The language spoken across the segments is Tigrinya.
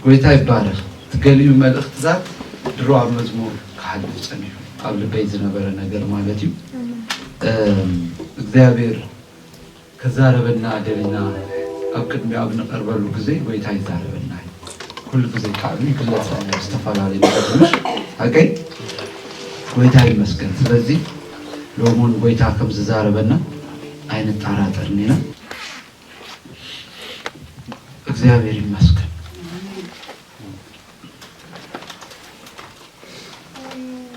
ጎይታ ይባረኽ እቲ ገሊኡ መልእኽትታት ድሮ ኣብ መዝሙር ክሓልፍ ጸኒሑ ኣብ ልበይ ዝነበረ ነገር ማለት እዩ እግዚኣብሔር ክዛረበና ደሊና ኣብ ቅድሚ ኣብ ንቀርበሉ ግዜ ጎይታ ይዛረበና ኩሉ ግዜ ቃሉ ይግለጸልና ኣብ ዝተፈላለዩ ነገሮች ኣገይ ጎይታ ይመስገን ስለዚ ሎሙን ጎይታ ከም ዝዛረበና ኣይንጠራጠርን ኢና እግዚኣብሔር ይመስገን።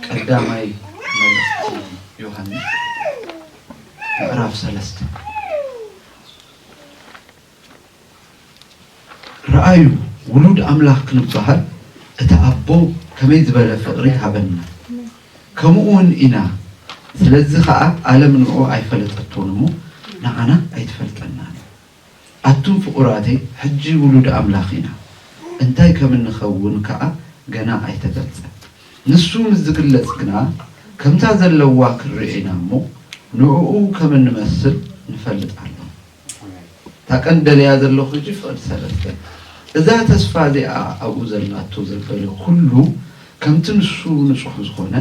ቀዳማይ መልእኽቲ ዮሐንስ ምዕራፍ ሰለስተ ርኣዩ ውሉድ ኣምላኽ ክንብሃል እቲ ኣቦ ከመይ ዝበለ ፍቕሪ ሃበና ከሙኡውን ኢና ስለዚ ከኣ ኣለም ንእኡ ኣይፈለጠቶን እሞ ንዓና ኣይትፈልጠናን እያ ኣቱም ፍቁራተይ ሕጂ ውሉድ ኣምላኽ ኢና እንታይ ከምንከውን ከኣ ገና ኣይተገልጸን ንሱ ምስ ዝግለጽ ግና ከምታ ዘለዋ ክንርእዮ ኢና እሞ ንእኡ ከምንመስል ንፈልጥ ኣሎና። እታ ቀንዲ ደልያ ዘለኹ ሕጂ ፍቕዲ ሰለስተ እዛ ተስፋ እዚኣ ኣብኡ ዘላቶ ዘበለ ኩሉ ከምቲ ንሱ ንጹሕ ዝኾነ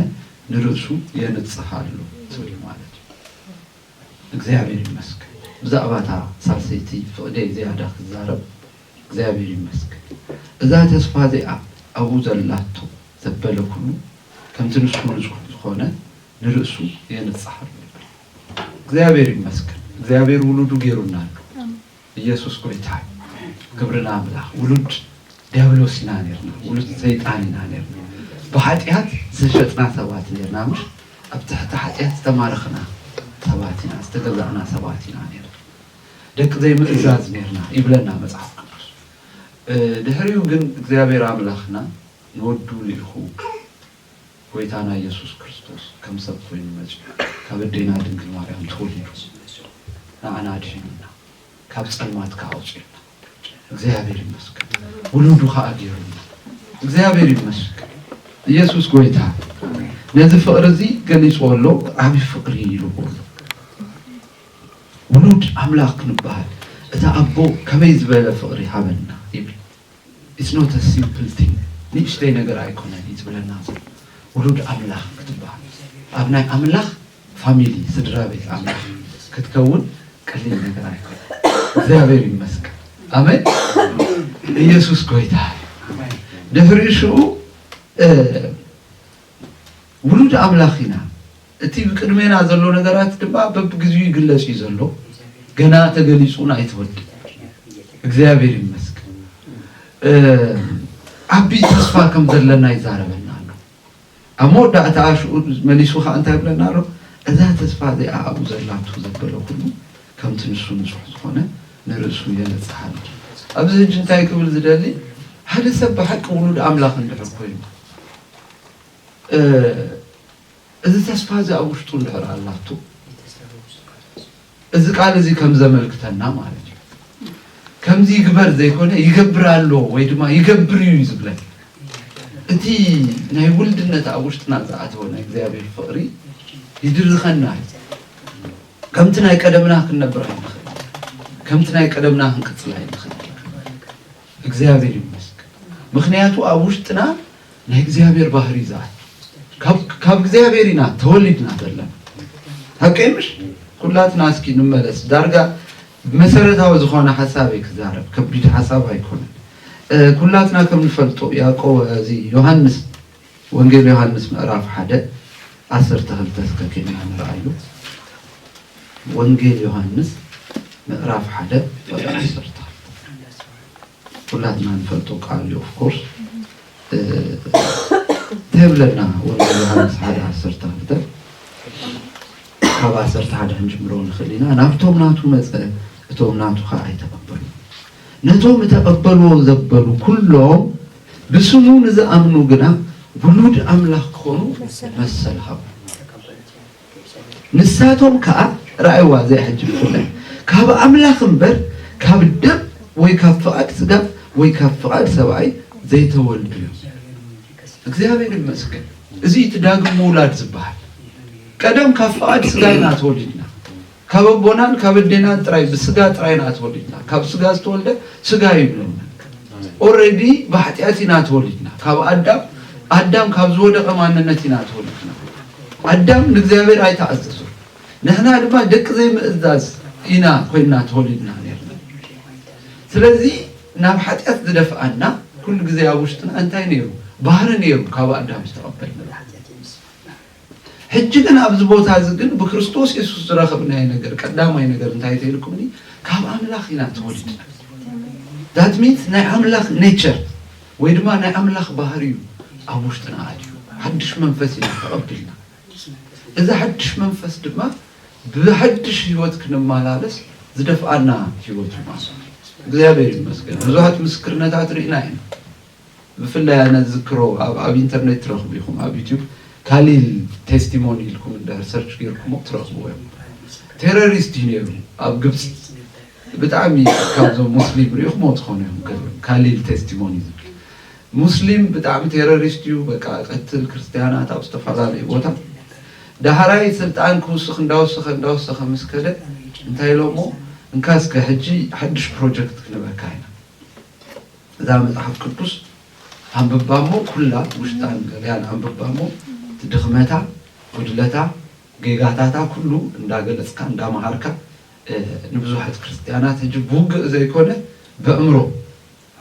ንርእሱ የንጽህ ኣሎ ትብል ማለት እዩ። እግዚኣብሔር ይመስገን ብዛእባ እታ ሳልሰይቲ ፍቕደይ ዝያዳ ክዛረብ እግዚኣብሔር ይመስገን እዛ ተስፋ እዚኣ ኣብኡ ዘላቶ ዘበለ ኩሉ ከምቲ ንሱ ንጹሕ ዝኾነ ንርእሱ የንጽህ ኣሎ። እግዚኣብሔር ይመስገን እግዚኣብሔር ውሉዱ ጌሩና ኣሎ ኢየሱስ ጎይታ እዩ ክብሪ ንኣምላኽ ውሉድ ዲያብሎስ ኢና ኔርና ውሉድ ሰይጣን ኢና ኔርና ብሓጢኣት ዝተሸጥና ሰባት ኔርና እምበር ኣብ ትሕቲ ሓጢኣት ዝተማረኽና ሰባት ኢና ዝተገዛእና ሰባት ኢና ኔርና ደቂ ዘይምእዛዝ ኔርና ይብለና መጽሓፍ ቅዱስ ድሕሪኡ ግን እግዚኣብሔር ኣምላኽና ንወዱ ልኢኹ ጎይታና ኢየሱስ ክርስቶስ ከም ሰብ ኮይኑ መጺኡ ካብ ኣዴና ድንግል ማርያም ተወሊዱ ንዓና ኣድሒኑና ካብ ጸልማት ከኣ ኣውጺኡና እግዚኣብሔር ይመስገን ውሉዱ ከኣ ጌሩና እግዚኣብሔር ይመስገን ኢየሱስ ጎይታ ነዚ ፍቅሪ እዚ ገሊጽዎ ኣሎ ዓቢ ፍቅሪ ኢልዎ ኣሎ ውሉድ ኣምላኽ ክንበሃል እቲ ኣቦ ከመይ ዝበለ ፍቅሪ ሃበና ይብል It's not a simple thing ንእሽተይ ነገር ኣይኮነን እዩ ዝብለና ዘሎ ውሉድ ኣምላኽ ክትብሃል ኣብ ናይ ኣምላኽ ፋሚሊ ስድራ ቤት ኣምላኽ ክትከውን ቀሊል ነገር ኣይኮነን እግዚኣብሔር ይመስገን ኣሜን ኢየሱስ ጎይታ ድሕሪ ሽኡ ውሉድ ኣምላኽ ኢና እቲ ብቅድሜና ዘሎ ነገራት ድማ በብግዚኡ ይግለጽ እዩ ዘሎ ገና ተገሊጹን ኣይተወድእ እግዚኣብሔር ይመስገን ዓቢ ተስፋ ከም ዘለና ይዛረበና ኣሎ ኣብ መወዳእታ ኣሽኡ መሊሱ ከዓ እንታይ ብለና ኣሎ እዛ ተስፋ እዚኣ ኣብኡ ዘላቱ ዘበለ ኩሉ ከምቲ ንሱ ንጹሕ ዝኾነ ንርእሱ የነጽሃል ኣብዚ ህጂ እንታይ ክብል ዝደሊ ሓደ ሰብ ብሓቂ ውሉድ ኣምላኽ እንድሕር ኮይኑ እዚ ተስፋ እዚ ኣብ ውሽጡ እንድሕር ኣላቶ፣ እዚ ቃል እዚ ከም ዘመልክተና ማለት እዩ። ከምዚ ይግበር ዘይኮነ ይገብር ኣሎ ወይ ድማ ይገብር እዩ ዝብለን እቲ ናይ ውልድነት ኣብ ውሽጥና ዝኣተወ ናይ እግዚኣብሔር ፍቕሪ ይድርኸና እዩ። ከምቲ ናይ ቀደምና ክንነብር ኣይንኽእል፣ ከምቲ ናይ ቀደምና ክንቅፅል ኣይንኽእል። እግዚኣብሔር ይመስገን ምክንያቱ ኣብ ውሽጥና ናይ እግዚኣብሔር ባህሪ ዝኣቱ ካብ እግዚኣብሔር ኢና ተወሊድና ዘለና ሃቀይ ምሽ ኩላትና እስኪ ንመለስ ዳርጋ መሰረታዊ ዝኾነ ሓሳብ እየ ክዛረብ ከቢድ ሓሳብ ኣይኮነን ኩላትና ከም ንፈልጦ ያቆ እዚ ዮሃንስ ወንጌል ዮሃንስ ምዕራፍ ሓደ ዓሰርተ ክልተ እስከ ኴንና ንርኣዮ። ወንጌል ዮሃንስ ምዕራፍ ሓደ ቁጥሪ ዓሰርተ ክልተ ኩላትና ንፈልጦ ቃል እዩ ኦፍኮርስ እንታይ ብለና ወንጌል ዮሃንስ ሓደ ዓሰርተ ክልተ ካብ ዓሰርተ ሓደ ክንጅምሮ ንኽእል ኢና ናብቶም ናቱ መፀ እቶም ናቱ ከዓ ኣይተቐበሉ ነቶም እተቐበልዎ ዘበሉ ኩሎም ብስሙ ንዝኣምኑ ግና ውሉድ ኣምላኽ ክኾኑ መሰል ሃቦም። ንሳቶም ከኣ፣ ርኣይዋ እዚኣ ሕጂ ብፍላይ፣ ካብ ኣምላኽ እምበር ካብ ደም ወይ ካብ ፍቓድ ስጋ ወይ ካብ ፍቓድ ሰብኣይ ዘይተወልዱ እዮም። እግዚኣብሔር ይመስገን። እዚ እዩ እቲ ዳግም ምውላድ ዝበሃል። ቀደም ካብ ፍቓድ ስጋ ኢና ተወሊድና። ካብ ኣቦናን ካብ ኣዴናን ጥራይ ብስጋ ጥራይ ኢና ተወሊድና ካብ ስጋ ዝተወልደ ስጋ እዩ ይብለና ኦሬዲ ብሓጢኣት ኢና ተወሊድና ካብ ኣዳም ኣዳም ካብ ዝወደቐ ማንነት ኢና ተወሊድና ኣዳም ንእግዚኣብሔር ኣይተኣዘዞ ንሕና ድማ ደቂ ዘይምእዛዝ ኢና ኮይንና ተወሊድና ነርና ስለዚ ናብ ሓጢኣት ዝደፍኣና ኩሉ ግዜ ኣብ ውሽጥና እንታይ ነይሩ ባህሪ ነይሩ ካብ ኣዳም ዝተቐበልናዮ ሕጂ ግን ኣብዚ ቦታ እዚ ግን ብክርስቶስ የሱስ ዝረኸብናዮ ነገር ቀዳማይ ነገር እንታይ ተይልኩምኒ ካብ ኣምላኽ ኢና ተወሊድና ዳት ሚንስ ናይ ኣምላኽ ኔቸር ወይ ድማ ናይ ኣምላኽ ባህሪ እዩ ኣብ ውሽጥና ኣድዩ ሓድሽ መንፈስ ኢና ተቐቢልና እዚ ሓድሽ መንፈስ ድማ ብሓድሽ ህይወት ክንመላለስ ዝደፍኣና ህይወት እዩ ማለት እግዚኣብሔር ይመስገን ብዙሓት ምስክርነታት ርኢና ኢና ብፍላይ ኣነ ዝዝክሮ ኣብ ኣብ ኢንተርኔት ትረኽቡ ኢኹም ኣብ ዩቱብ ካሊል ቴስቲሞኒ ኢልኩም እንድሕር ሰርች ጌርኩሞ ትረኽብዎ ኢኹም ቴረሪስት እዩ ነይሩ ኣብ ግብጺ ብጣዕሚ ካብዞም ሙስሊም ሪኢኹሞ ትኾኑ ኢኹም ከ- ካሊል ቴስቲሞኒ ዝብል ሙስሊም ብጣዕሚ ቴረሪስት እዩ በቃ ቀትል ክርስትያናት ኣብ ዝተፈላለዩ ቦታ ዳሕራይ ስልጣን ክውስኽ እንዳወሰኸ እንዳወሰኸ ምስ ከደ እንታይ ኢሎሞ እንካ እስከ ሕጂ ሓድሽ ፕሮጀክት ክንህበካ ኢና እዛ መጽሓፍ ቅዱስ ኣንብባ እሞ ኩላ ውሽጣን ገበያን ኣንብባ እሞ እቲ ድኽመታ ጉድለታ ጌጋታታ ኩሉ እንዳገለጽካ እንዳመሃርካ ንብዙሓት ክርስትያናት ሕጂ ብውግእ ዘይኮነ በእምሮ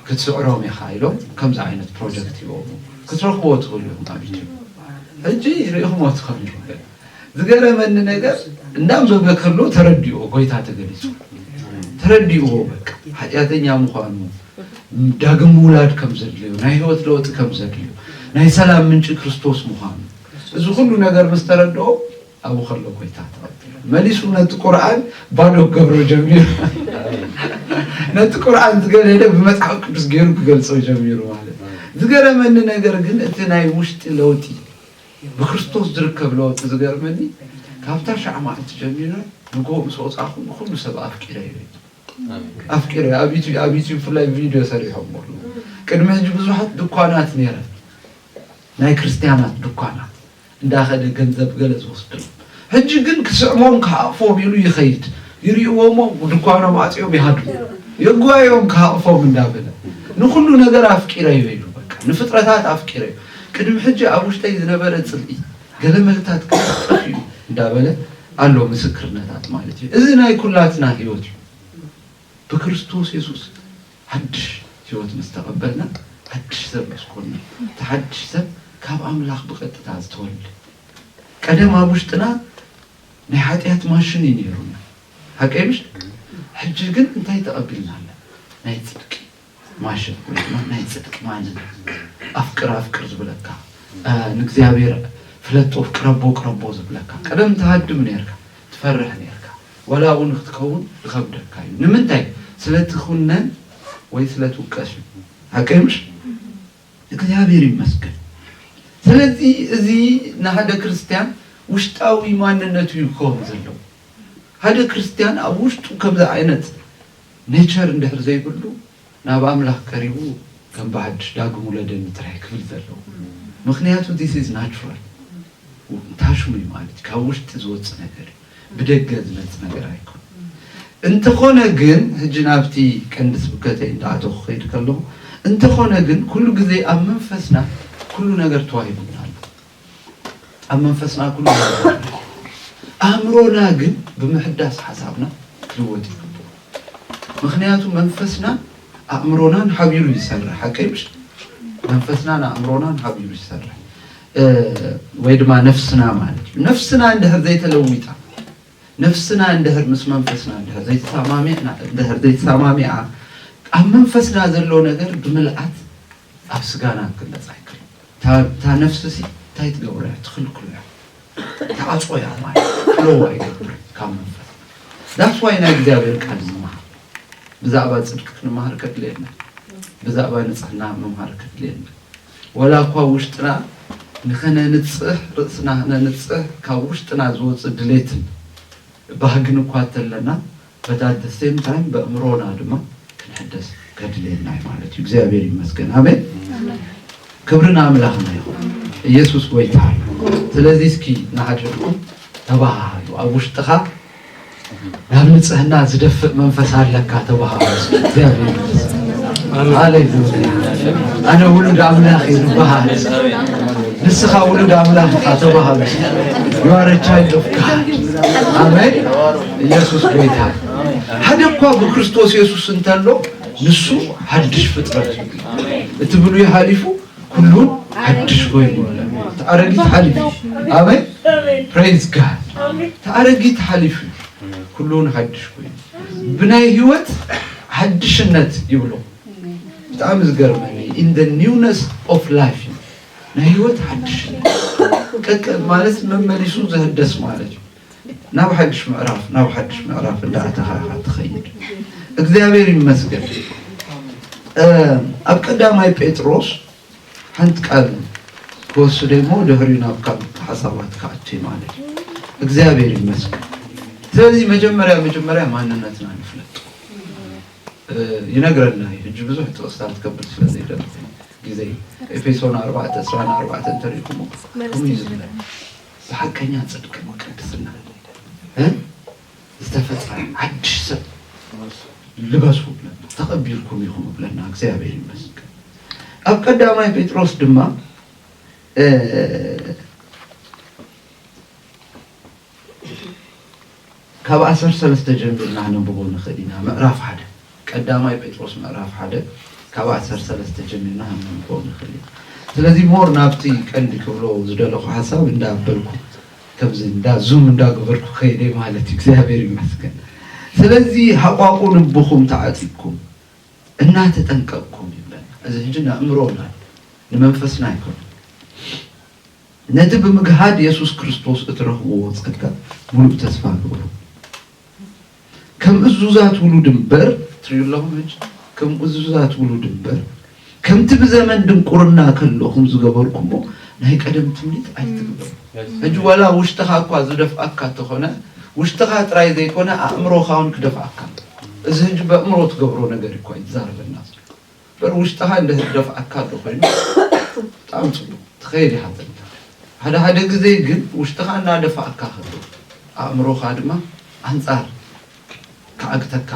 ክትስዕሮም ኢኻ ኢሎም ከምዚ ዓይነት ፕሮጀክት ይቦሞ ክትረኽብዎ ትኽእሉ ኢኹም ኣብ ዩቱብ ሕጂ ርኢኹምዎ ትኽእሉ ዝገረመኒ ነገር እንዳም ዘብለ ከሎ ተረዲኦ ጎይታ ተገሊጹ ተረዲእዎ በቃ ሓጢኣተኛ ምዃኑ ዳግም ምውላድ ከም ዘድልዮ ናይ ህይወት ለውጢ ከም ዘድልዮ ናይ ሰላም ምንጪ ክርስቶስ ምዃኑ እዚ ኩሉ ነገር ምስ ተረድኦ ኣብኡ ከሎ ጎይታ ተቐቢሉ መሊሱ ነቲ ቁርኣን ባዶ ክገብሮ ጀሚሩ ነቲ ቁርኣን ዝገደደ ብመጽሓፍ ቅዱስ ገይሩ ክገልጾ ጀሚሩ ማለት ዝገረመኒ ነገር ግን እቲ ናይ ውሽጢ ለውጢ ብክርስቶስ ዝርከብ ለወጢ ዝገርመኒ ካብታ ሻዕ ማዓልቲ ጀሚረ ንጎሆ ምስ ወጻኩ ንኩሉ ሰብ ኣፍቂረዮ እዩ ዝብል ኣፍቂረዮ ኣብ ዩቱብ ብፍላይ ቪድዮ ሰሪሖሞ ኣለዉ ቅድሚ ሕጂ ብዙሓት ድኳናት ነይረን ናይ ክርስትያናት ድኳናት እንዳከደ ገንዘብ ገለ ዝወስደሉ ሕጂ ግን ክስዕሞም ክሃቕፎም ኢሉ ይኸይድ። ይሪኡዎሞ ድኳኖም ኣጽዮም ይሃድሙ። የጓዮም ክሃቕፎም እንዳ በለ። ንኹሉ ነገር ኣፍቂረዮ ኢሉ በቃ ንፍጥረታት ኣፍቂረዮ። ቅድሚ ሕጂ ኣብ ውሽጠይ ዝነበረ ጽልኢ ገለመለታት ክሳዕ ጠፊኡ እንዳ በለ ኣሎ ምስክርነታት ማለት እዩ። እዚ ናይ ኩላትና ሕይወት እዩ። ብክርስቶስ የሱስ ሓድሽ ሕይወት ምስ ተቐበልና ሓድሽ ሰብ ምስ ኮንና እቲ ሓድሽ ሰብ ካብ ኣምላኽ ብቐጥታ ዝተወልደ ቀደም ኣብ ውሽጥና ናይ ሓጢኣት ማሽን እዩ ነይሩና ሓቀይ ምሽ ሕጂ ግን እንታይ ተቐቢልና ኣለ ናይ ፅድቂ ማሽን ወይ ድማ ናይ ፅድቂ ማንን ኣፍቅር ኣፍቅር ዝብለካ ንእግዚኣብሔር ፍለጦ ቅረቦ ቅረቦ ዝብለካ ቀደም ተሃድም ነርካ ትፈርሕ ነርካ ወላ እውን ክትከውን ይኸብደካ እዩ ንምንታይ ስለትኹነን ወይ ስለትውቀስ እዩ ሓቀይ ምሽ እግዚኣብሔር ይመስገን ስለዚ እዚ ንሃደ ክርስትያን ውሽጣዊ ማንነቱ እዩ ክከውን ዘለዎ ሃደ ክርስትያን ኣብ ውሽጡ ከምዚ ኣይነት ኔቸር እንድሕር ዘይብሉ ናብ ኣምላክ ቀሪቡ ከም ብሓድሽ ዳግም ውለደኒ ጥራይ ክብል ዘለዎ ምክንያቱ this is natural ታሽሙ እዩ ማለት እዩ ካብ ውሽጢ ዝወጽእ ነገር እዩ ብደገ ዝመጽእ ነገር ኣይኮነን። እንተኾነ ግን ሕጂ ናብቲ ቀንዲ ስብከተይ እንዳኣተኹ ክኸይድ ከለኹ እንተኾነ ግን ኩሉ ግዜ ኣብ መንፈስና ኩሉ ነገር ተዋሂቡና ኣሎ። ኣብ መንፈስና ኩሉ ነገር ኣእምሮና ግን ብምሕዳስ ሓሳብና ክልወጥ ይግብኦ። ምክንያቱ መንፈስና ኣእምሮናን ሓቢሩ ይሰርሕ ሓቀይ ምሽ መንፈስናን ኣእምሮናን ሓቢሩ ይሰርሕ። ወይ ድማ ነፍስና ማለት እዩ ነፍስና እንድሕር ዘይተለዊጣ ነፍስና እንድሕር ምስ መንፈስና እንድሕር ዘይተሰማሚዕና እንድሕር ዘይተሰማሚዓ ኣብ መንፈስና ዘሎ ነገር ብምልኣት ኣብ ስጋና ክመፅ ኣይክል እታ ነፍሲ ሲ እንታይ ትገብሮ እያ ትኽልክሎ እያ ተዓፅቆ እያ ማለት ክለዋ ይገብር ካብ መንፈስ ዳስ ዋይ ናይ እግዚኣብሔር ቃል ንመሃር ብዛዕባ ፅድቂ ክንመሃር ከድልየና ብዛዕባ ንፅሕና ምምሃር ከድልየና ወላ እኳ ውሽጥና ንኸነንጽህ ርእስና ክነንጽህ ካብ ውሽጥና ዝወጽእ ድሌትን ባህግን እኳ እንተለና but at the same time በእምሮና ድማ ክንሕደስ ከድልየና እዩ ማለት እዩ እግዚኣብሔር ይመስገን ኣሜን ክብሪ ንኣምላኽና ይኹን ኢየሱስ ጎይታ እዩ ስለዚ እስኪ ንዓድልኩም ተባሃሃሉ ኣብ ውሽጥኻ ናብ ንጽህና ዝደፍእ መንፈስ ኣለካ ተባሃሉ እግዚኣብሔር ኣነ ውሉድ ኣምላኽ እዩ ዝበሃል ንስኻ ውሉድ ኣምላኽ ኢኻ ተባሃሉ ዩዋረቻይ ዶፍካ ኣመን ኢየሱስ ጎይታ ሓደ እኳ ብክርስቶስ የሱስ እንተሎ ንሱ ሓድሽ ፍጥረት እዩ እቲ ብሉይ ሓሊፉ ኩሉ ሓድሽ ኮይኑ እቲ ኣረጊት ሓሊፉ ኣሜን ፕሬዝ ጋድ እቲ ኣረጊት ሓሊፉ ኩሉውን ሓድሽ ኮይኑ ብናይ ህይወት ሓድሽነት ይብሉ ብጣዕሚ ዝገርመኒ ኢን ደ ኒውነስ ኦፍ ላይፍ ናይ ህይወት ሓድሽነት ማለት መመሊሱ ዝህደስ ማለት እዩ ናብ ሓድሽ ምዕራፍ ናብ ሓድሽ ምዕራፍ እንዳኣተኻ ኢኻ ትኸይድ። እግዚኣብሔር ይመስገን ኣብ ቀዳማይ ጴጥሮስ ሓንቲ ቃል ክወስደ እሞ ድሕሪ ናብ ካብ ሓሳባት ክኣቲ ማለት እዩ። እግዚኣብሔር ይመስገን። ስለዚ መጀመርያ መጀመርያ ማንነትና ንፍለጥ ይነግረና እዩ። ሕጂ ብዙሕ ጥቕስታት ከብል ስለ ዘይደለ ግዜ ኤፌሶን ኣርባዕተ ዕስራን ኣርባዕተ እንተሪእኩሞ ከምኡ እዩ ዝብለና ሓቀኛ ጽድቅን ቅድስናን ን ዝተፈጥረ ሓድሽ ሰብ ልበሱ እብለና ተቐቢልኩም ኢኹም እብለና እግዚኣብሔር ይመስገን ኣብ ቀዳማይ ጴጥሮስ ድማ ካብ ኣሰር ሰለስተ ጀሚርና ክነንብቦ ንኽእል ኢና፣ ምዕራፍ ሓደ፣ ቀዳማይ ጴጥሮስ ምዕራፍ ሓደ ካብ ኣሰር ሰለስተ ጀሚርና ክንነንብቦ ንኽእል ኢና። ስለዚ more ናብቲ ቀንዲ ክብሎ ዝደለኹ ሓሳብ እንዳ በልኩ ከምዚ እንዳ zoom እንዳ ገበርኩ ከይደ ማለት እዩ። እግዚኣብሔር ይመስገን ስለዚ ሃቋቁ ልብኹም ተዓጢቅኩም እናተጠንቀቅኩም ይብለና። እዚ ሕጂ ንኣእምሮና እዩ ንመንፈስና ኣይኮነን። ነቲ ብምግሃድ የሱስ ክርስቶስ እትረኽብዎ ጸጋ ምሉእ ተስፋ ግበሩ። ከም እዙዛት ውሉድ እምበር፣ ትርእዩ ኣለኹም ሕጂ፣ ከም እዙዛት ውሉድ እምበር፣ ከምቲ ብዘመን ድንቁርና ከለኹም ዝገበርኩሞ ናይ ቀደም ትምኒት ኣይትግበሩ። ሕጂ ዋላ ውሽጥኻ እኳ ዝደፍኣካ እንተኾነ፣ ውሽጥኻ ጥራይ ዘይኮነ ኣእምሮኻውን ክደፍኣካ ኣሎ። እዚ ሕጂ በእምሮ ትገብሮ ነገር እኳ እዩ ዝዛረበና ዘሎ። በር ውሽጥኻ እንድህር ዝደፍኣካ እንተኾይኑ ብጣዕሚ ፅቡቕ ትኸይድ ኢኻ ተለካ ሓደ ሓደ ግዜ ግን ውሽጥኻ እናደፋኣካ ከሎ ኣእምሮኻ ድማ ኣንፃር ክዓግተካ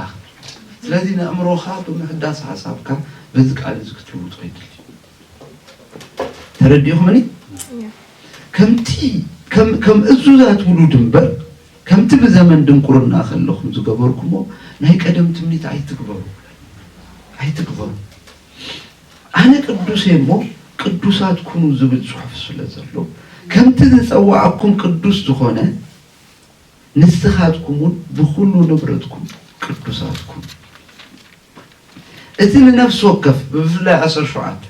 ስለዚ ንእምሮኻ ብምሕዳስ ሓሳብካ በዚ ቃል እዚ ክትልውጦ ይድል ተረዲኹምኒ ከምቲ ከም እዙዛት ውሉድ እምበር ከምቲ ብዘመን ድንቁርና ከለኹም ዝገበርኩሞ ናይ ቀደም ትምኒት ኣይትግበሩ ኣይትግበሩ ኣነ ቅዱስ እየ እሞ ቅዱሳት ኩኑ ዝብል ጽሑፍ ስለ ዘሎ ከምቲ ዝጸዋዓኩም ቅዱስ ዝኾነ ንስኻትኩምውን ብኹሉ ንብረትኩም ቅዱሳት ኩኑ። እቲ ንነፍሲ ወከፍ ብፍላይ ዓሰርተ ሸውዓተ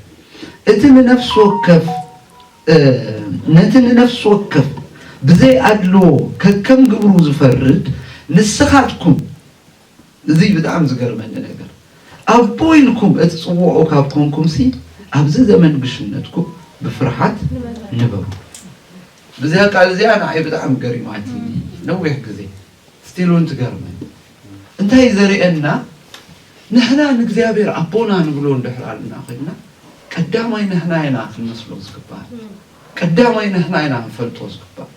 እቲ ንነፍሲ ወከፍ ነቲ ንነፍሲ ወከፍ ብዘይ ኣድልዎ ከከም ግብሩ ዝፈርድ ንስኻትኩም እዚ እዩ ብጣዕሚ ዝገርመኒ ነገር ኣቦ ኢልኩም እትጽውዑ ካብ ኮንኩምሲ ኣብዚ ዘመን ግሽነትኩም ብፍርሓት ንበሩ። እዚኣ ቃል እዚኣ ንዓይ ብጣዕሚ ገሪማትኒ ነዊሕ ግዜ። ስቲል ውን ትገርመኒ እንታይ እዩ ዘርእየና ንሕና ንእግዚኣብሔር ኣቦና ንብሎ እንድሕር ኣለና ኮይንና ቀዳማይ ንሕና ኢና ክንመስሎ ዝግባእ ቀዳማይ ንሕና ኢና ክንፈልጦ ዝግባእ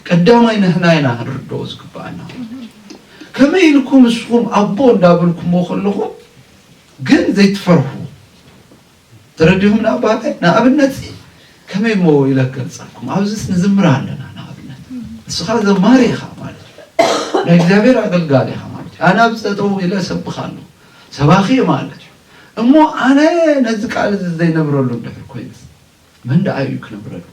ቀዳማይ ንሕና ኢና ክንርድኦ ዝግባኣና ከመይ ኢልኩም ንስኹም ኣቦ እንዳበልኩሞ ከለኹም ግን ዘይትፈርሑ ተረዲኹም ዶ ኣባቴ? ንኣብነትሲ ከመይ እሞ ኢለ ክገልጸልኩም፣ ኣብዚስ ንዝምር ኣለና ንኣብነት፣ ንስኻ ዘማሪ ኢኻ ማለት እዩ፣ ናይ እግዚኣብሔር ኣገልጋሊ ኢኻ ማለት እዩ፣ ኣነ ኣብዚ ጠጠው ኢለ እሰብኽ ኣለኹ፣ ሰባኺ እየ ማለት እዩ፣ እሞ ኣነ ነዚ ቃል እዚ ዘይነብረሉ እንድሕር ኮይነስ መን ደኣ እዩ ክነብረሉ?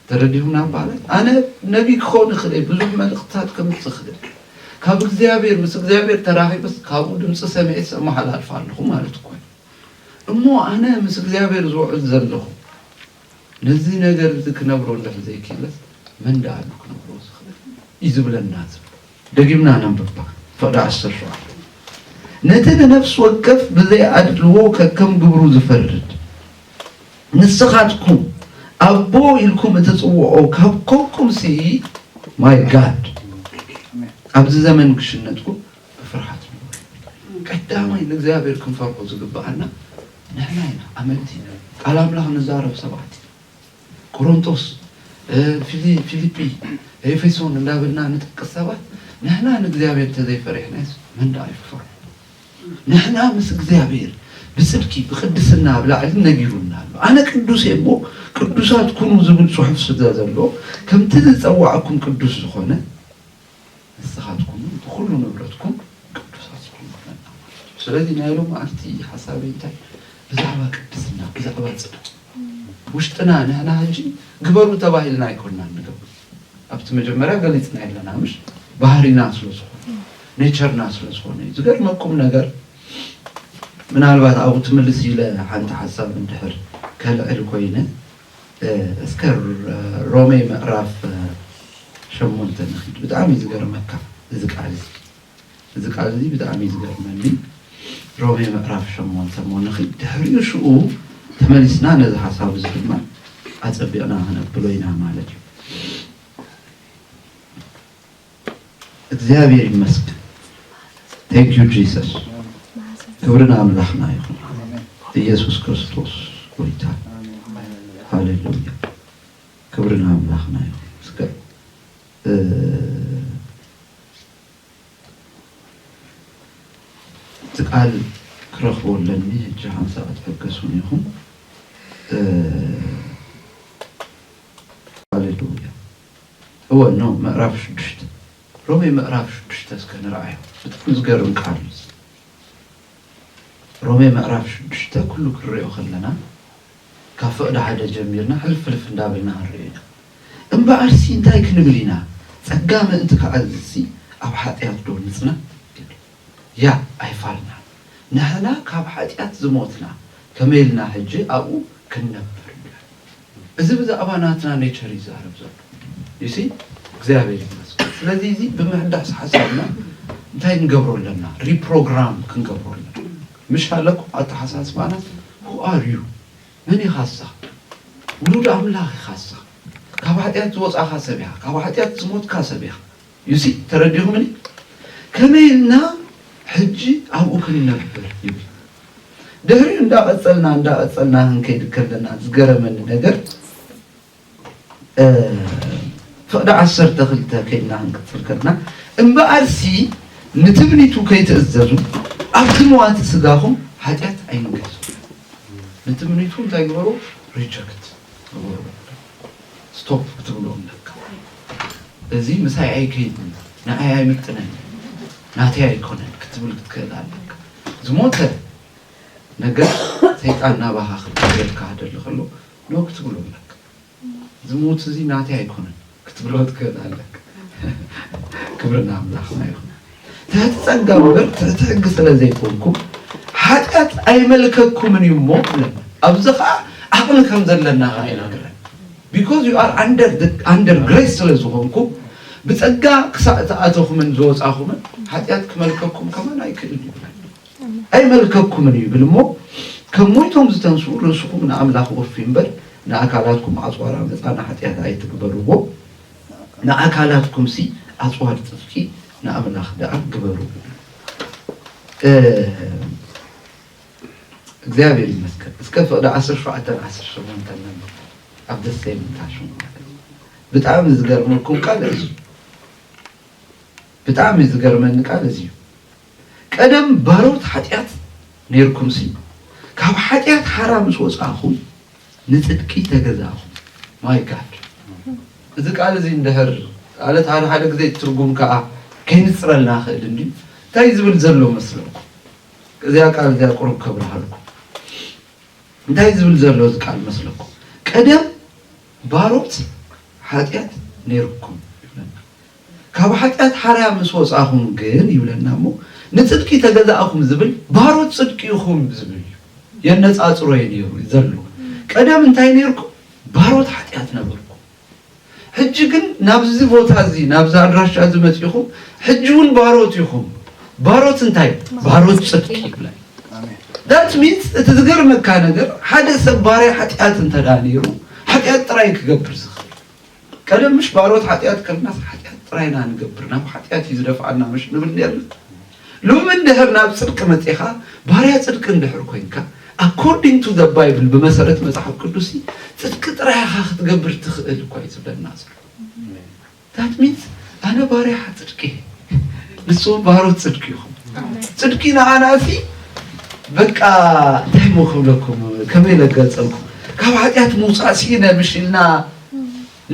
ተረዲኹም ናብ ማለት ኣነ ነቢይ ክኸውን ይኽእል እየ፣ ብዙሕ መልእኽትታት ከምጽእ ክእል እየ፣ ካብ እግዚኣብሔር ምስ እግዚኣብሔር ተራኺበስ ካብኡ ድምጺ ሰሚዔስ ኣመሓላልፍ ኣለኹ ማለት እኮ እዩ። እሞ ኣነ ምስ እግዚኣብሔር ዝውዕል ዘለኹ ነዚ ነገር እዚ ክነብሮ እንድሕር ዘይኪኢለስ መን ድኣ ኣሉ ክነብሮ ዝኽእል እዩ ዝብለና ዝብል። ደጊምና ነንብባ ፍቕዲ ዓሰርተ ሸውዓተ ነቲ ንነፍሲ ወከፍ ብዘይ ኣድልዎ ከከም ግብሩ ዝፈርድ ንስኻትኩም ኣቦ ኢልኩም እትጽውዖ ካብ ኮንኩምሲ ማይ ጋድ ኣብዚ ዘመን ክሽነጥኩም ብፍርሃት ንነብር። ቀዳማይ ንእግዚኣብሔር ክንፈርሆ ዝግብኣና ንሕና ኢና፣ ኣመንቲ ኢና፣ ቃል ኣምላኽ ንዛረብ ሰባት ኢና። ቆሮንቶስ፣ ፊሊ፣ ፊሊጲ፣ ኤፌሶን እንዳበልና ንጠቅስ ሰባት ንሕና ንእግዚኣብሔር እንተዘይፈሪሕናዮስ መን ደኣ እዩ ክፈርሆ? ንሕና ምስ እግዚኣብሔር ብጽድቂ ብቅድስና ኣብ ላዕሊ ነጊሩና ኣሎ። ኣነ ቅዱስ እየ እሞ ቅዱሳት ኩኑ ዝብል ጽሑፍ ስለ ዘሎ ከምቲ ዝጸዋዕኩም ቅዱስ ዝኾነ ንስኻትኩም እውን ብኹሉ ንብረትኩም ቅዱሳት ዝኾኑ ኩነና ማለት እዩ። ስለዚ ናይ ሎምዓልቲ ሓሳበይ እንታይ ብዛዕባ ቅድስና ብዛዕባ ጽድቂ ውሽጥና ንሕና ሕጂ ግበሩ ተባሂልና ኣይኮንና ንገብር ኣብቲ መጀመርያ ገሊጽና የለና ምሽ ባህሪና ስለ ዝኾነ ኔቸርና ስለ ዝኾነ እዩ። ዝገርመኩም ነገር ምናልባት ኣብኡ ትምልስ ኢለ ሓንቲ ሓሳብ እንድሕር ከልዕል ኮይነ እስከ ሮሜ ምዕራፍ ሸሞንተ ንኺድ ብጣዕሚ እዩ ዝገርመካ እዚ ቃል እዚ እዚ ቃል እዚ ብጣዕሚ እዩ ዝገርመኒ ሮሜ ምዕራፍ ሸሞንተ እሞ ንኺድ ድሕሪኡ ሽኡ ተመሊስና ነዚ ሓሳብ እዚ ድማ ኣፀቢቕና ክነብሎ ኢና ማለት እዩ እግዚኣብሔር ይመስገን Thank you Jesus ክብሪ ንኣምላኽና ይኹን ኢየሱስ ክርስቶስ ጎይታ ሃሌሉያ ክብሪ ንኣምላኽና ይኹን እስከ እ፣ እቲ ቃል ክረኽቦ ኣለኒ ሕጂ ሓንሳ ክትሕገሱን ይኹን እ፣ ሃሌሉያ እወ እኖ ምዕራፍ ሽዱሽተ ሮሜ ምዕራፍ ሽዱሽተ እስከ ንርኣዮ ብጣዕሚ ዝገርም ቃል እዩ እዚ ሮሜ ምዕራፍ ሽዱሽተ ኩሉ ክንሪኦ ከለና ካብ ፍቕዲ ሓደ ጀሚርና ሕልፍ ሕልፍ እንዳበልና ክንሪኦ ኢና እምበኣርሲ እንታይ ክንብል ኢና ጸጋ ምእንቲ ክዓዝዝሲ ኣብ ሓጢኣት ዶ ንጽና ያእ ኣይፋልናን ንሕና ካብ ሓጢኣት ዝሞትና ከመይ ኢልና ሕጂ ኣብኡ ክንነብር እዚ ብዛዕባ ናትና ኔቸር እዩ ዝዛረብ ዘሎ you see እግዚኣብሔር ይመስገን ስለዚ እዚ ብምሕዳስ ሓሳብና እንታይ ንገብሮ ኣለና ሪፕሮግራም ክንገብሮ ኣለና ምሽ ኣለኩም ኣተሓሳስባና who are you መን ኢኻ ንስኻ ውሉድ ኣምላኽ ኢኻ ንስኻ ካብ ሓጢኣት ዝወፃኻ ሰብ ኢኻ ካብ ሓጢኣት ዝሞትካ ሰብ ኢኻ ዩሲ ተረዲኹምኒ ከመይ ኢልና ሕጂ ኣብኡ ክንነብር ይብል ድሕሪኡ እንዳቐጸልና እንዳቐጸልና ክንከይድ ከለና ዝገረመኒ ነገር ፍቕዲ ዓሰርተ ክልተ ከይድና ክንቅጽል ከለና እምበኣርሲ ንትምኒቱ ከይትእዘዙ ኣብ ዝመዋቲ ስጋኹም ሓጢኣት ኣይንገዙ ንትምኒቱ እንታይ ግበሩ ሪጀክት ግበሩ ስቶፕ ክትብሉ ኣለካ እዚ ምሳይ ኣይከይድን ንኣይ ኣይምጥነንን ናተይ ኣይኮነን ክትብል ክትክእል ኣለካ ዝሞተ ነገር ሰይጣን ናባካ ክቀየር ክሃደል ከሎ ኖ ክትብሉ ኣለካ እዚ ሞት እዚ ናተይ ኣይኮነን ክትብሎ ትክእል ኣለካ ክብሪ ንኣምላክና ይኩን ትሕቲ ጸጋ እምበር ትሕቲ ሕጊ ስለ ዘይኮንኩም ሓጢኣት ኣይመልከኩምን እዩ እሞ ይብለና። ኣብዚ ኸኣ ዓቕሚ ከም ዘለና ኸኣ ይነግረን ቢኮዝ ዩ ኣር ኣንደር ግሬስ ስለ ዝኾንኩም ብጸጋ ክሳእ ዝኣተኹምን ዝወጻኹምን ሓጢኣት ክመልከኩም ከማን ኣይክእልን ይብለና። ኣይመልከኩምን እዩ ይብል እሞ ከም ሞይቶም ዝተንስኡ ርእስኹም ንኣምላኽ ወፍዩ እምበር ንኣካላትኩም ኣጽዋር ዓመጻ ንሓጢኣት ኣይትግበርዎ ንኣካላትኩምሲ ኣጽዋር ጽድቂ ንኣምላኽ ደኣ ግበሩ እብል። እግዚኣብሔር ይመስገን እስከ ፍቅዲ ዓሰርተ ሸውዓተን ዓሰርተ ሸሞንተን ነንብቦ ኣብ ደሰይ ምንታሹ ማለት እዩ። ብጣዕሚ ዝገርመኩም ቃል እዚ እዩ። ብጣዕሚ ዝገርመኒ ቃል እዚ እዩ። ቀደም ባሮት ሓጢኣት ኔርኩምሲ፣ ካብ ሓጢኣት ሓራ ምስ ወጻእኩም፣ ንጽድቂ ተገዛእኩም። My God! እዚ ቃል እዚ እንድሕር ማለት ሓደ ሓደ ግዜ ትርጉም ከኣ ከይንጽረልና ይኽእል እንድዩ። እንታይ እዩ ዝብል ዘሎ መስለኩም? እዚኣ ቃል እዚኣ ቁሩብ ከብርሃልኩም። እንታይ እዩ ዝብል ዘሎ እዚ ቃል መስለኩም? ቀደም ባሮት ሓጢኣት ኔርኩም። ካብ ሓጢኣት ሓርያ ምስ ወጻኹም ግን ይብለና እሞ ንጽድቂ ተገዛእኹም ዝብል ባሮት ጽድቂ ኢኹም ዝብል እዩ የነጻጽሮ እየ ነይሩ ዘሎ ቀደም እንታይ ነይርኩም ባሮት ሓጢኣት ነበርኩም ሕጂ ግን ናብዚ ቦታ እዚ ናብዚ ኣድራሻ እዚ መጺኹም ሕጂ እውን ባሮት ኢኹም ባሮት እንታይ ባሮት ጽድቂ ይብላ ዳት ሚንስ እቲ ዝገርመካ ነገር ሓደ ሰብ ባርያ ሓጢኣት እንተዳ ነይሩ ሓጢኣት ጥራይ ክገብር ዝኽእል ቀደም ምሽ ባሮት ሓጢኣት ከለናስ ሓጢኣት ጥራይ ኢና ንገብር ናብ ሓጢኣት እዩ ዝደፍኣና ምሽ ንብል ኔርና ሎሚ እንድሕር ናብ ጽድቂ መጺኻ ባርያ ጽድቂ እንድሕር ኮንካ ኣኮርዲንግ ቱ ዘ ባይብል ብመሰረት መጽሓፍ ቅዱስ ጽድቂ ጥራይ ኢኻ ክትገብር ትኽእል እኳ እዩ ዝብለና ዘሎ ዳት ሚንስ ኣነ ባርያ ጽድቂ እየ ንስኹም ባሮት ጽድቂ ኢኹም። ጽድቂ ንዓና እዚ በቃ እንታይ እሞ ክብለኩም ከመይ ለገልጸልኩም ካብ ሓጢኣት ምውፃእ ሲኢነ ምሽ ኢልና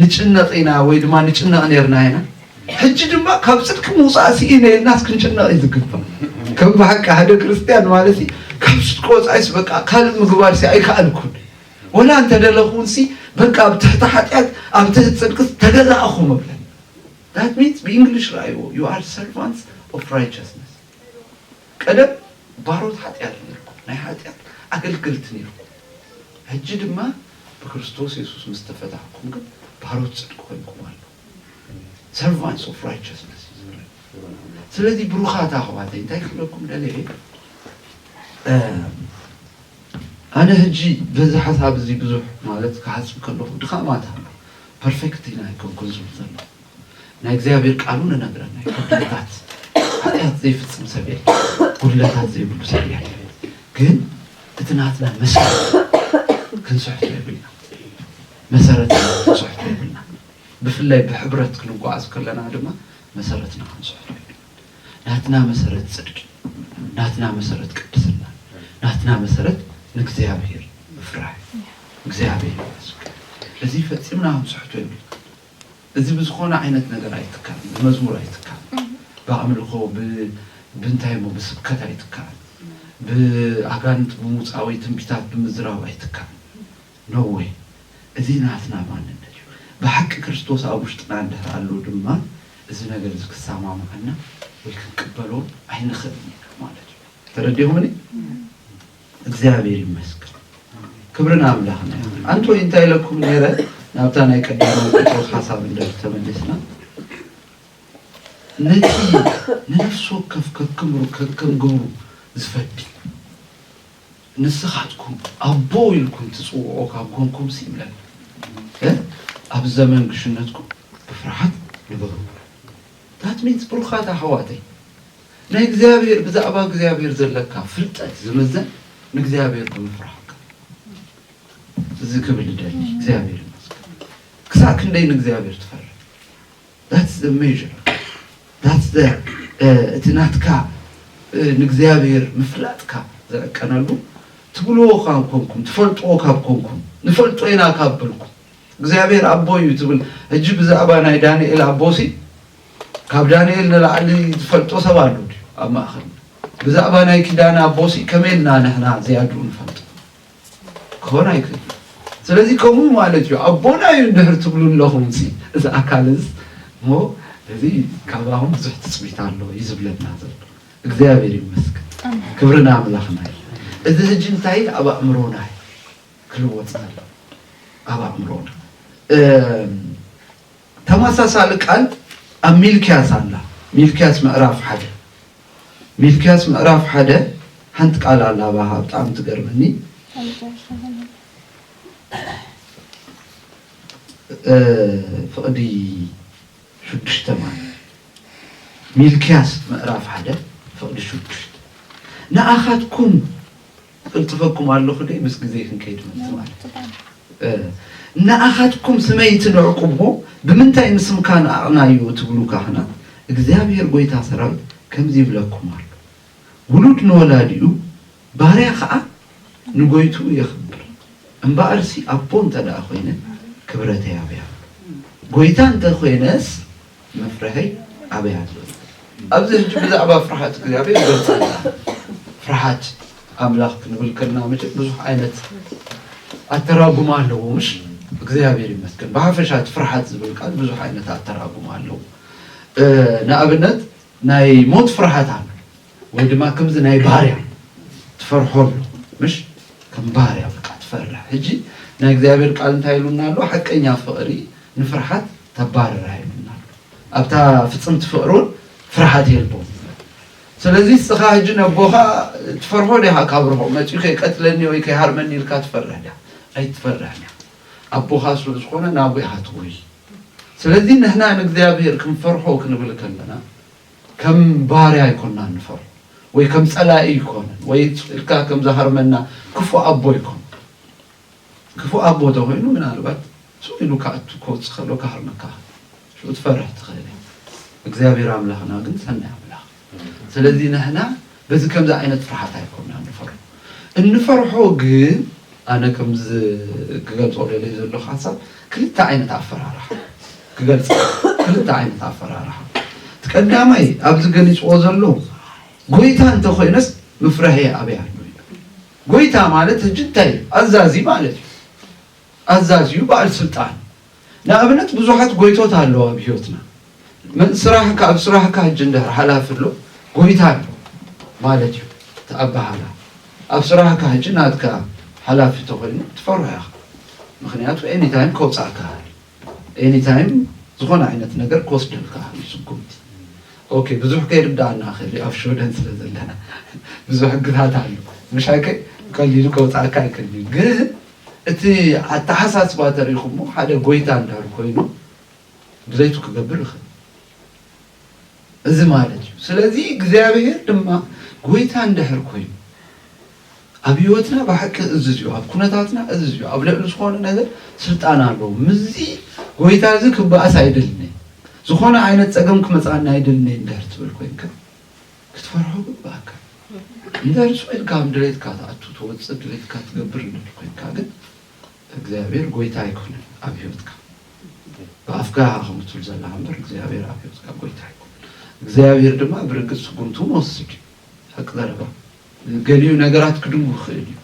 ንጭነቕ ኢና ወይ ድማ ንጭነቕ ነርና ኢና ሕጂ ድማ ካብ ጽድቂ ምውፃእ ሲኢነ ኢልናስ ክንጭነቕ እዩ ዝግባእ ከም ብሓቂ ሓደ ክርስትያን ማለት እዩ ካብ ጽድቂ ወፃኢስ በቃ ካልእ ምግባር ሲ ኣይከኣልኩን ወላ እንተደለኹን ሲ በቃ ኣብ ትሕቲ ሓጢኣት ኣብ ትሕቲ ጽድቂ ተገዛእኹ ምብለ That means ብእንግሊሽ ረኣይዎ you are servants of righteousness ቀደም ባሮት ሓጢኣት ኔርኩም ናይ ሓጢኣት ኣገልገልቲ ኔርኩም ሕጂ ድማ ብክርስቶስ የሱስ ምስ ተፈታሕኩም ግን ባሮት ጽድቂ ኮይንኩም ኣለኹም servants of righteousness እዩ ዝብለና ስለዚ ብሩኻት ኣሕዋተይ እንታይ ክብለኩም ደልየ ኣነ ህጂ በዚ ሓሳብ እዚ ብዙሕ ማለት ክሓስብ ከለኹ ድኻማት ኣሎ ፐርፈክት ኢና ኣይኮንኩን ዝብል ዘለኹ ናይ እግዚኣብሔር ቃል ውን እነግረና እዩ ጉድለታት ሓጢኣት ዘይፍጽም ሰብ የለን ጉድለታት ዘይብሉ ሰብ የለን ግን እቲ ናትና መሰረት ክንስሕቶ የብልና መሰረትና ክንስሕቶ የብልና ብፍላይ ብሕብረት ክንጓዓዝ ከለና ድማ መሰረትና ክንስሕቶ የብልና ናትና መሰረት ጽድቂ፣ ናትና መሰረት ቅድስና፣ ናትና መሰረት ንእግዚኣብሔር ምፍራህ እዩ። እግዚኣብሔር ይመስገን እዚ ፈጺምና ክንስሕቶ የብልናን። እዚ ብዝኾነ ዓይነት ነገር ኣይትካእን፣ ብመዝሙር ኣይትካእን፣ ብኣምልኾ ብእንታይ እሞ ብስብከት ኣይትካእን፣ ብኣጋንንት ብምውጻእ ወይ ትንቢታት ብምዝራብ ኣይትካእን። No way እዚ ናትና ማንነት እዩ ብሓቂ ክርስቶስ ኣብ ውሽጥና እንድህር ኣሎ ድማ እዚ ነገር እዚ ክሳማማዓና ወይ ክንቅበሎ ኣይንክእልን ኢና ማለት እዩ ተረዲኹምኒ እግዚኣብሔር ይመስገን ክብሪ ንኣምላኽና ይኹን ኣንቶይ እንታይ ኢለኩም ነይረ ናብታ ናይ ቀዳማዊ ጴጥሮስ ሓሳብ እንድህር ተመሊስና ነቲ ንነፍሲ ወከፍ ከክምሩ ከከም ግብሩ ዝፈዲ ንስኻትኩም ኣቦ ኢልኩም ትጽውዕዎ ካብ ኰንኩምሲ ይብለና እምበር፣ ኣብ ዘመን ግሽነትኩም ብፍርሃት ንበሩ ይብሎ። That means ብሩኻት ኣሕዋተይ፣ ናይ እግዚኣብሔር ብዛዕባ እግዚኣብሔር ዘለካ ፍልጠት ዝምዘን ንእግዚኣብሔር ብምፍራህካ እዩ። እዚ ክብል እደሊ እግዚኣብሔር ይመስገን ክሳዕ ክንደይ ንእግዚኣብሔር ትፈርህ? That's the measure that's the እቲ ናትካ ንእግዚኣብሔር ምፍላጥካ ዝዕቀነሉ ትብልዎ ካብ ኮንኩም ትፈልጥዎ ካብ ኮንኩም ንፈልጦ ኢና ካብ በልኩም እግዚኣብሔር ኣቦ እዩ ትብል ሕጂ ብዛዕባ ናይ ዳንኤል ኣቦሲ ካብ ዳንኤል ንላዕሊ ዝፈልጦ ሰብ ኣሉ ድዩ ኣብ ማእኸል ብዛዕባ ናይ ኪዳን ኣቦሲ ከመይ ኢልና ንሕና ዝያድኡ ንፈልጦ ክኾን ኣይክእልን እዩ። ስለዚ ከምኡ ማለት እዩ ኣቦና እዩ እንድሕር ትብሉ ኣለኹምሲ እዚ ኣካልስ እሞ እዚ ካባኹም ብዙሕ ትፅቢት ኣሎ እዩ ዝብለና ዘሎ። እግዚኣብሔር ይመስገን፣ ኣሜን ክብሪ ንኣምላኽና እዩ። እዚ ሕጂ እንታይ እዩ? ኣብ ኣእምሮና እዩ ክልወጥ ዘለዎ ኣብ ኣእምሮና እም፣ ተመሳሳሊ ቃል ኣብ ሚልክያስ ኣላ ሚልክያስ ምዕራፍ ሓደ ሚልክያስ ምዕራፍ ሓደ ሓንቲ ቃል ኣላ ባሃ ብጣዕሚ ትገርመኒ ፍቕዲ ሽዱሽተ ማለት ሚልክያስ ምዕራፍ ሓደ ፍቕዲ ሽዱሽተ ንኣኻትኩም እቕልጥፈኩም ኣሎኹ ደይ ምስ ግዜ ክንከይድ ምእንቲ ማለት ንኣኻትኩም ስመይ ትንዕቁዎ ብምንታይ ንስምካ ንኣቕናዮ እትብሉ ካህናት እግዚኣብሄር ጐይታ ሠራዊት ከምዚ ይብለኩም ኣሎ ውሉድ ንወላዲኡ ባርያ ኸኣ ንጐይትኡ የኽብር እምበኣርሲ ኣቦ እንተ ደኣ ኾይነ ክብረተይ ኣበይ ኣሎ ጐይታ እንተ ኾይነስ መፍርሀይ ኣበይ ኣሎ እዩ ኣብዚ ሕጂ ብዛዕባ ፍርሓት እግዚኣብሔር ገልጻልና ፍርሓት ኣምላኽ ክንብል ከልና መቸም ብዙሕ ዓይነት ኣተራጉማ ኣለዎ ምሽ እግዚኣብሔር ይመስገን ብሓፈሻት ፍርሓት ዝብል ቃል ብዙሕ ዓይነት ኣተራጉማ ኣለዎ ንኣብነት ናይ ሞት ፍርሓት ኣሎ ወይ ድማ ከምዚ ናይ ባርያ ትፈርሖ ኣሎ ምሽ ከም ባርያ በቃ ትፈርሕ ሕጂ ናይ እግዚኣብሔር ቃል እንታይ ኢሉና ኣሎ ሓቀኛ ፍቕሪ ንፍርሓት ተባርራ ኢሉና ኣሎ ኣብታ ፍጽምቲ ፍቕሪ እውን ፍርሓት የልቦም ስለዚ እስኻ ሕጂ ነቦኻ ትፈርሖ ዲኻ ካብ ርሆ መፅኡ ከይቀትለኒ ወይ ከይሃርመኒ ኢልካ ትፈርሕ ዲኻ ኣይትፈርሕን ኢኻ ኣቦኻ ስለ ዝኾነ ናብኡ ኢኻ ትጎይ ስለዚ ንሕና ንእግዚኣብሔር ክንፈርሖ ክንብል ከለና ከም ባርያ ኣይኮናን ንፈርሆ ወይ ከም ጸላኢ ኣይኮነን ወይ ኢልካ ከም ዝሃርመና ክፉእ ኣቦ ኣይኮነን። ክፉእ ኣቦ ተኾይኑ ምናልባት ሱቕ ኢሉ ክኣቱ ክወጽእ ከሎ ክሃርመካ ከሎ ሽዑ ትፈርህ ትኽእል ኢኻ። እግዚኣብሔር ኣምላኽና ግን ሰናይ ኣምላኽ እዩ። ስለዚ ንሕና በዚ ከምዚ ዓይነት ፍርሃት ኣይኮናን ንፈርሆ። እንፈርሖ ግን ኣነ ከምዚ ክገልጾ ደልየ ዘለኹ ሓሳብ ክልተ ዓይነት ኣፈራርሓ ክገልጽ ክልተ ዓይነት ኣፈራርሓ እቲ ቀዳማይ ኣብዚ ገሊጽዎ ዘሎ ጎይታ እንተኾይነስ ምፍራህየ ኣበይ ኣሎ እዩ። ጎይታ ማለት ሕጂ እንታይ እዩ? ኣዛዚ ማለት እዩ። ኣዛዚዩ በዓል ስልጣን ንኣብነት ብዙሓት ጎይቶት ኣለዉ ኣብ ሂወትና መን ስራሕካ ኣብ ስራሕካ ጅንዳር ሓላፊ ኣሎ ጎይታ ኣሎ ማለት እዩ እቲ ኣባሃህላ ኣብ ስራሕካ ሕጂ ናትካ ሓላፊ ተኮይኑ ትፈርሖ ኢካ ምክንያቱ ኤኒ ታይም ከውጻኣካ ይክእል እዩ ኤኒ ታይም ዝኮነ ዓይነት ነገር ክወስደልካ ይክእል እዩ ስጉምቲ ኦኬ ብዙሕ ከይርዳኣና ይክእል እዩ ኣብ ሽወደን ስለ ዘለና ብዙሕ ሕግታት ኣሎ ምሽ ኣይከ ቀሊሉ ከውጻኣካ ኣይክእል እዩ ግን እቲ ኣተሓሳስባ ተሪኹሞ ሓደ ጎይታ እንድሕር ኮይኑ ድሌቱ ክገብር ይኽእል እዚ ማለት እዩ። ስለዚ እግዚኣብሔር ድማ ጎይታ እንድሕር ኮይኑ ኣብ ህይወትና ብሓቂ እዝዝ እዩ፣ ኣብ ኩነታትና እዝዝ እዩ፣ ኣብ ልዕሊ ዝኾነ ነገር ስልጣን ኣለዎ። ምስዚ ጎይታ እዚ ክበኣስ ኣይደልን ዝኾነ ዓይነት ፀገም ክመፅኣና ኣይደልን እንድሕር ትብል ኮይንካ ክትፈርሖ ግብኣካ ክንደርሶ ኢልካ ኣብ ድሌትካ ትኣቱ ትወጽእ ድሌትካ ትገብር እንድሕር ኮንካ ግን እግዚኣብሔር ጎይታ ኣይኮነን ኣብ ህይወትካ ብኣፍካ ኢኻ ከምኡ ትብል ዘለኻ እምበር እግዚኣብሔር ኣብ ህይወትካ ጎይታ ኣይኮነን እግዚኣብሔር ድማ ብርግጽ ስጉምቱ መወሰድ እዩ ሓቂ ዘረባ ገሊኡ ነገራት ክድንጉ ይኽእል እዩ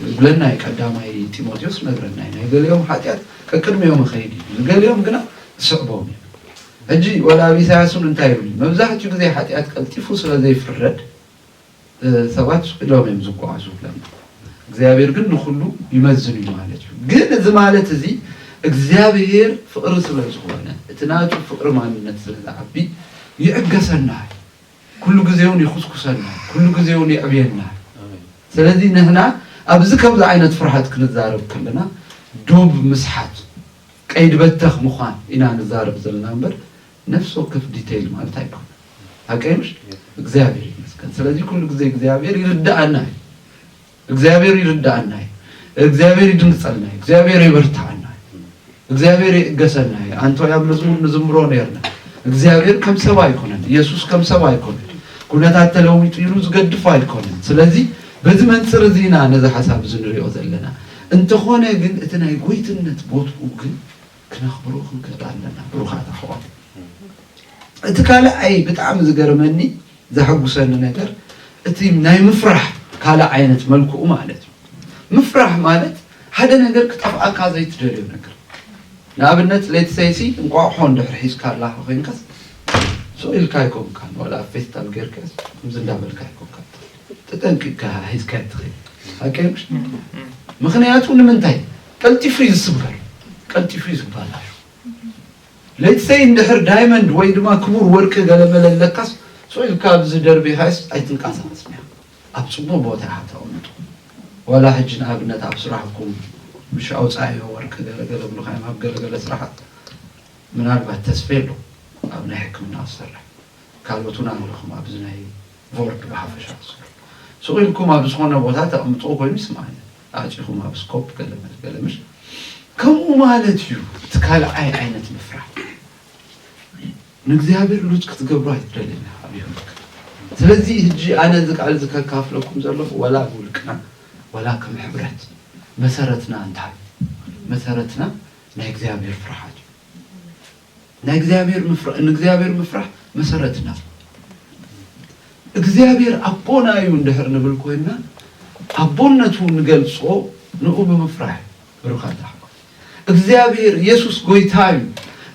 ዝብለና እዩ ቀዳማይ ጢሞቴዎስ ነግረና እዩ ናይ ገሊኦም ሓጢኣት ቀቅድሚኦም ኸይድ እዩ ንገሊኦም ግና ዝስዕቦም እዩ ሕጂ ወላ ኣብ ኢሳያስ እውን እንታይ ይብል መብዛሕትኡ ግዜ ሓጢኣት ቀልጢፉ ስለ ዘይፍረድ ሰባት ስሒሎም እዮም ዝጓዓዙ ይብለና እግዚኣብሔር ግን ንኩሉ ይመዝን እዩ ማለት እዩ ግን እዚ ማለት እዚ እግዚኣብሔር ፍቅሪ ስለ ዝኾነ እቲ ናቱ ፍቅሪ ማንነት ስለ ዝዓቢ ይዕገሰና ኩሉ ግዜ ውን ይኹስኩሰና ኩሉ ግዜ ውን የዕብየና ስለዚ ንሕና ኣብዚ ከምዚ ዓይነት ፍርሐት ክንዛረብ ከለና ዱብ ምስሓት ቀይዲ በተኽ ምዃን ኢና ንዛረብ ዘለና እምበር ነፍሲ ወከፍ ዲተይል ማለት ኣይኮነን ሓቀይ ምሽ እግዚኣብሔር ይመስገን ስለዚ ኩሉ ግዜ እግዚኣብሔር ይርደኣና እዩ እግዚኣብሔር ይርድኣና እዩ እግዚኣብሔር ይድምፀና እዩ እግዚኣብሔር የበርትዓና እዩ እግዚኣብሔር ይእገሰና እዩ ኣንቶ ኣብ መዝሙር ንዝምሮ ነርና እግዚኣብሔር ከም ሰብ ኣይኮነን ኢየሱስ ከም ሰብ ኣይኮነን ኩነታት ተለዊጡ ኢሉ ዝገድፎ ኣይኮነን ስለዚ በዚ መንፅር እዚ ኢና ነዚ ሓሳብ እዚ ንሪኦ ዘለና እንተኾነ ግን እቲ ናይ ጎይትነት ቦትኡ ግን ክነኽብሮ ክንክእል ኣለና ብሩኻት ኣሕዋት። እቲ ካልኣይ ብጣዕሚ ዝገርመኒ ዘሐጉሰኒ ነገር እቲ ናይ ምፍራሕ ካልእ ዓይነት መልክኡ ማለት እዩ። ምፍራሕ ማለት ሓደ ነገር ክጠፍኣካ ዘይትደልዮ ነገር ንኣብነት ሌትሰይሲ እንቋቑሖ እንድሕር ሒዝካ ኣላኻ ኮይንካስ ስቕ ኢልካ ኣይኮንካን ዋላ ኣብ ፌስታል ጌርካስ ከምዚ እንዳበልካ ኣይኮንካ ተጠንቂቕካ ሒዝካ ትኸይድ ምክንያቱ ንምንታይ ቀልጢፉ እዩ ዝስበር ቀልጢፉ እዩ ዝባላሾ Let's say እንድሕር ዳይመንድ ወይ ድማ ክቡር ወርቂ ገለመለ ኣለካስ ሱቅ ኢልካ ኣብዚ ደርቢካስ ኣይትንቃሳቀስን ኢካ ኣብ ጽቡቅ ቦታ ኢካ ተቀምጦ ዋላ ሕጂ ንኣብነት ኣብ ስራሕኩም ምሽ ኣውጻኣዮ ወርቂ ገለ ገለ ብልካዮም ኣብ ገለ ገለ ስራሓት ምናልባት ተስፌ ኣሎ ኣብ ናይ ሕክምና ዝሰርሕ ካልኦት እውን ኣለኹም ኣብዚ ናይ ቮርድ ብሓፈሻ ዝሰርሑ ሱቅ ኢልኩም ኣብ ዝኮነ ቦታ ተቀምጥዎ ኮይኑ ይስማዓኒ ኣጺኹም ኣብ ስኮፕ ገለመል ገለመል ከምኡ ማለት እዩ። እቲ ካልኣይ ዓይነት ምፍራህ ንእግዚኣብሔር ሉጽ ክትገብሩ ኣይትደልን ኢኻ ኣብ ህይወትካ። ስለዚ ህጂ ኣነ እዚ ቃል እዚ ከካፍለኩም ዘለኹ ወላ ብውልቅና ወላ ከም ሕብረት መሰረትና እንታይ እዩ? መሰረትና ናይ እግዚኣብሔር ፍርሃት እዩ። ናይ እግዚኣብሔር ምፍራ ንእግዚኣብሔር ምፍራሕ መሰረትና እዩ። እግዚኣብሔር ኣቦና እዩ እንድሕር ንብል ኮይንና ኣቦነቱ ንገልጾ ንኡ ብምፍራሕ እዩ። ብሩኻት ኣሕዋት እግዚኣብሔር ኢየሱስ ጎይታ እዩ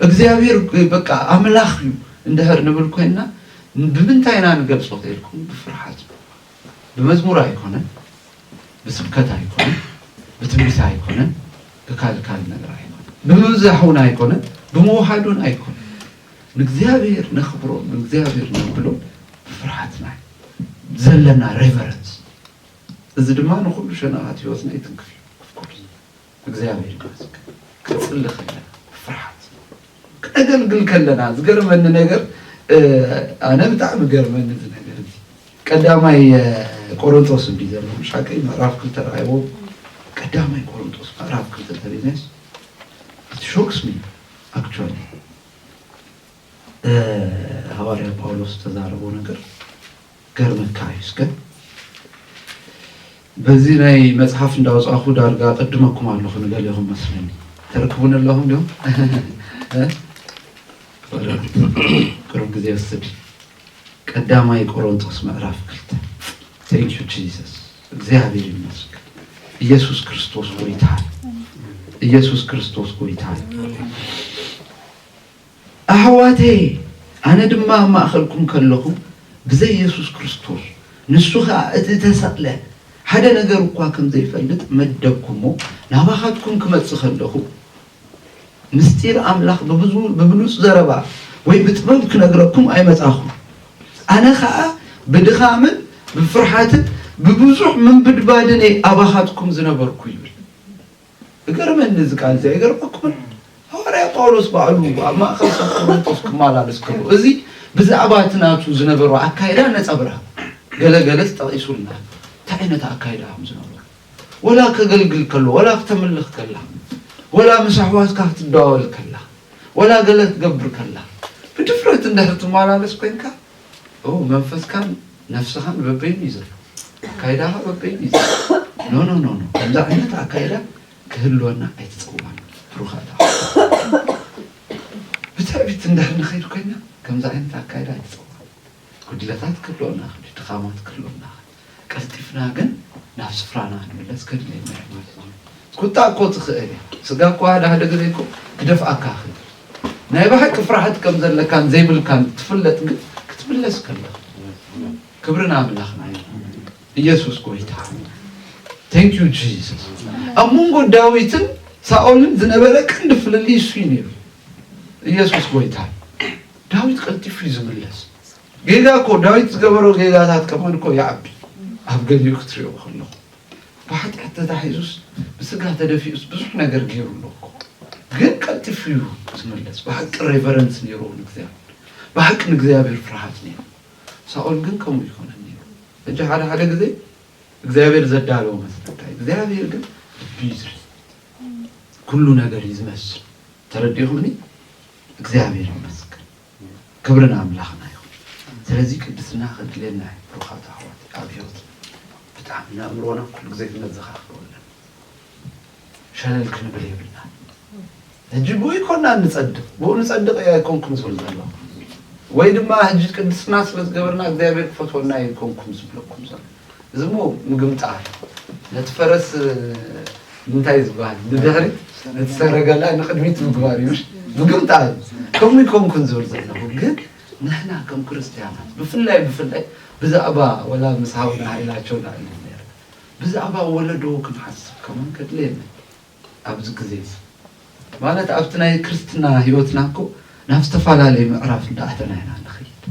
እግዚኣብሔር ግ- በቃ ኣምላኽ እዩ እንድሕር ንብል ኮይንና ብምንታይ ኢና ንገልጾ ተልኩም ብፍርሓት እዩ። ብመዝሙር ኣይኮነን ብስብከት ኣይኮነን ብትንቢት ኣይኮነን ብካል ካል ነገር ኣይኮነን ብምብዛሕውን ኣይኮነን ብምውሓዱን ኣይኮነን ንእግዚኣብሔር ነኽብሮ ንእግዚኣብሔር ነብሎ ብፍርሓትና ዘለና ሬቨረንስ እዚ ድማ ንኩሉ ሸነኻት ህይወትና ይትንክፍ እዩ እግዚኣብሔር ይመስገን ክንጽሊ ከለና ብፍርሓት ክነገልግል ከለና ዝገርመኒ ነገር ኣነ ብጣዕሚ ገርመኒ እዚ ነገር እዚ ቀዳማይ ቆሮንቶስ እንዲ ዘሎ ምሻቀይ ምዕራፍ ክልተ ረኣይዎ ቀዳማይ ቆሮንቶስ ምዕራፍ ክልተ ተሪናስ ሾክስ ሚ ኣክቹዋሊ ሃዋርያ ጳውሎስ ዝተዛረቦ ነገር ክገርመካ እዩ እስከ በዚ ናይ መጽሓፍ እንዳውጻኹ ዳርጋ ቅድመኩም ኣለኹ ንገሌኹም መስለኒ ተርክቡኒ ኣለኹም ዲኹም ቅሩብ ግዜ ወስድ ቀዳማይ ቆሮንቶስ ምዕራፍ ክልተ ቴንክ ዩ ጂሰስ እግዚኣብሔር ይመስገን ኢየሱስ ክርስቶስ ጎይታ ኢየሱስ ክርስቶስ ጎይታ ኣሕዋተየ፣ ኣነ ድማ ኣብ ማእኸልኩም ከለኹ ብዘይ የሱስ ክርስቶስ፣ ንሱ ኸኣ እቲ እተሰቕለ፣ ሓደ ነገር እኳ ከም ዘይፈልጥ መደብኩ እሞ፣ ናባኻትኩም ክመጽእ ከለኹ፣ ምስጢር ኣምላኽ ብብሉጽ ዘረባ ወይ ብጥበብ ክነግረኩም ኣይመጻኹን። ኣነ ኸኣ ብድኻምን ብፍርሓትን ብብዙሕ ምንብድባድን እየ ኣባኻትኩም ዝነበርኩ ይብል። እገርመኒ እዚ ቃል እዚ ኣይገርመኩምን ሃዋርያ ጳውሎስ ባዕሉ ኣብ ማእከል ሰብ ቆሮንቶስ ክማላለስ ከሎ እዚ ብዛዕባ እቲ ናቱ ዝነበሮ ኣካይዳ ነጸብራቅ ገለ ገለጽ ጠቂሱልና እንታይ ዓይነት ኣካይዳ ከም ዝነበሮ ወላ ከገልግል ከሎ ወላ ክተምልኽ ከላ ወላ ምስ ኣሕዋትካ ክትደዋወል ከላ ወላ ገለ ክትገብር ከላ ብድፍረት እንድሕር ትማላለስ ኮንካ እው መንፈስካን ነፍስኻን በበይኑ እዩ ዘሎ፣ ኣካይዳኻ በበይኑ እዩ ዘሎ። ኖ ኖ ኖ ኖ ከምዚ ዓይነት ኣካይዳ ክህልወና ኣይትፀዋና ብሩኻት ኣሕዋት። ብትዕቢት እንድሕር ንኸይድ ኮይና ከምዚ ዓይነት ኣካይዳ ኣይትፀዋና። ጉድለታት ክህልወና ይኽእል እዩ፣ ድኻማት ክህልወና ይኽእል እዩ። ቀልጢፍና ግን ናብ ስፍራና ክንምለስ ከድልየና እዩ ማለት እዩ። ቁጣ እኮ ትኽእል እያ፣ ስጋ እኮ ሓደ ሓደ ግዜ እኮ ክደፍኣካ ይኽእል እዩ። ናይ ብሓቂ ፍርሓት ከም ዘለካን ዘይብልካን ትፍለጥ ግን ክትምለስ ከለኻ ክብሪ ንኣምላኽና ይኹን ኢየሱስ ጎይታ Thank you Jesus ኣብ መንጎ ዳዊትን ሳኦልን ዝነበረ ቀንዲ ፍልልይ እሱ እዩ ነይሩ ኢየሱስ ጎይታ ዳዊት ቀልጢፉ እዩ ዝምለስ ጌጋ እኮ ዳዊት ዝገበሮ ጌጋታት ከማን እኮ ይዓቢ ኣብ ገሊኡ ክትሪኦ ከለኹ ብሓጢኣት ተታሒዙስ ብስጋ ተደፊኡስ ብዙሕ ነገር ገይሩ ኣሎ እኮ ግን ቀልጢፉ እዩ ዝመለስ ብሓቂ ሬቨረንስ ነይሩ ንእግዚኣብሔር ብሓቂ ንእግዚኣብሔር ፍርሃት ነይሩ ሳኦል ግን ከምኡ ይኮነን ነይሩ እጂ ሓደ ሓደ ግዜ እግዚኣብሔር ዘዳለዎ መስለካ እግዚኣብሔር ግን ልቢ ይዝሪ ኩሉ ነገር እዩ ዝመስል ተረዲኹምኒ እግዚኣብሔር ይመስገን ክብሪ ንኣምላኽና ይኹን ስለዚ ቅድስና ከድልየና እዩ ብሩኻት ኣሕዋት ኣብ ሂወትና ብጣዕሚ ንኣእምሮና ኩሉ ግዜ ክነዘኻኽሮ ኣለና ሸለል ክንብል የብልናን ሕጂ ብኡ ይኮናን ንጸድቕ ብኡ ንጸድቕ እየ ኣይኮንኩም ዝብል ዘለኹ ወይ ድማ ሕጂ ቅድስና ስለ ዝገበርና እግዚኣብሔር ክፈትወና እየ ይኮንኩም ዝብለኩም ዘሎ እዚ እሞ ምግምጣል እዩ። ነቲ ፈረስ እንታይ እዩ ዝበሃል ንድሕሪት ነቲ ሰረገላ ንቅድሚት ምግባር እዩ ምግምጣል እዩ። ከምኡ ይኮንኩን ዝብል ዘለኹ ግን ንሕና ከም ክርስትያናት ብፍላይ ብፍላይ ብዛዕባ ወላ ምስ ሃውና ሃይላቸው ንዕልል ነይርና ብዛዕባ ወለዶ ክንሓስብ ከማን ከድልየና እዩ። ኣብዚ ግዜ እዚ ማለት ኣብቲ ናይ ክርስትና ሂወትና እኮ ናብ ዝተፋላለየ ምዕራፍ እንዳኣተና ኢና ንኸይድ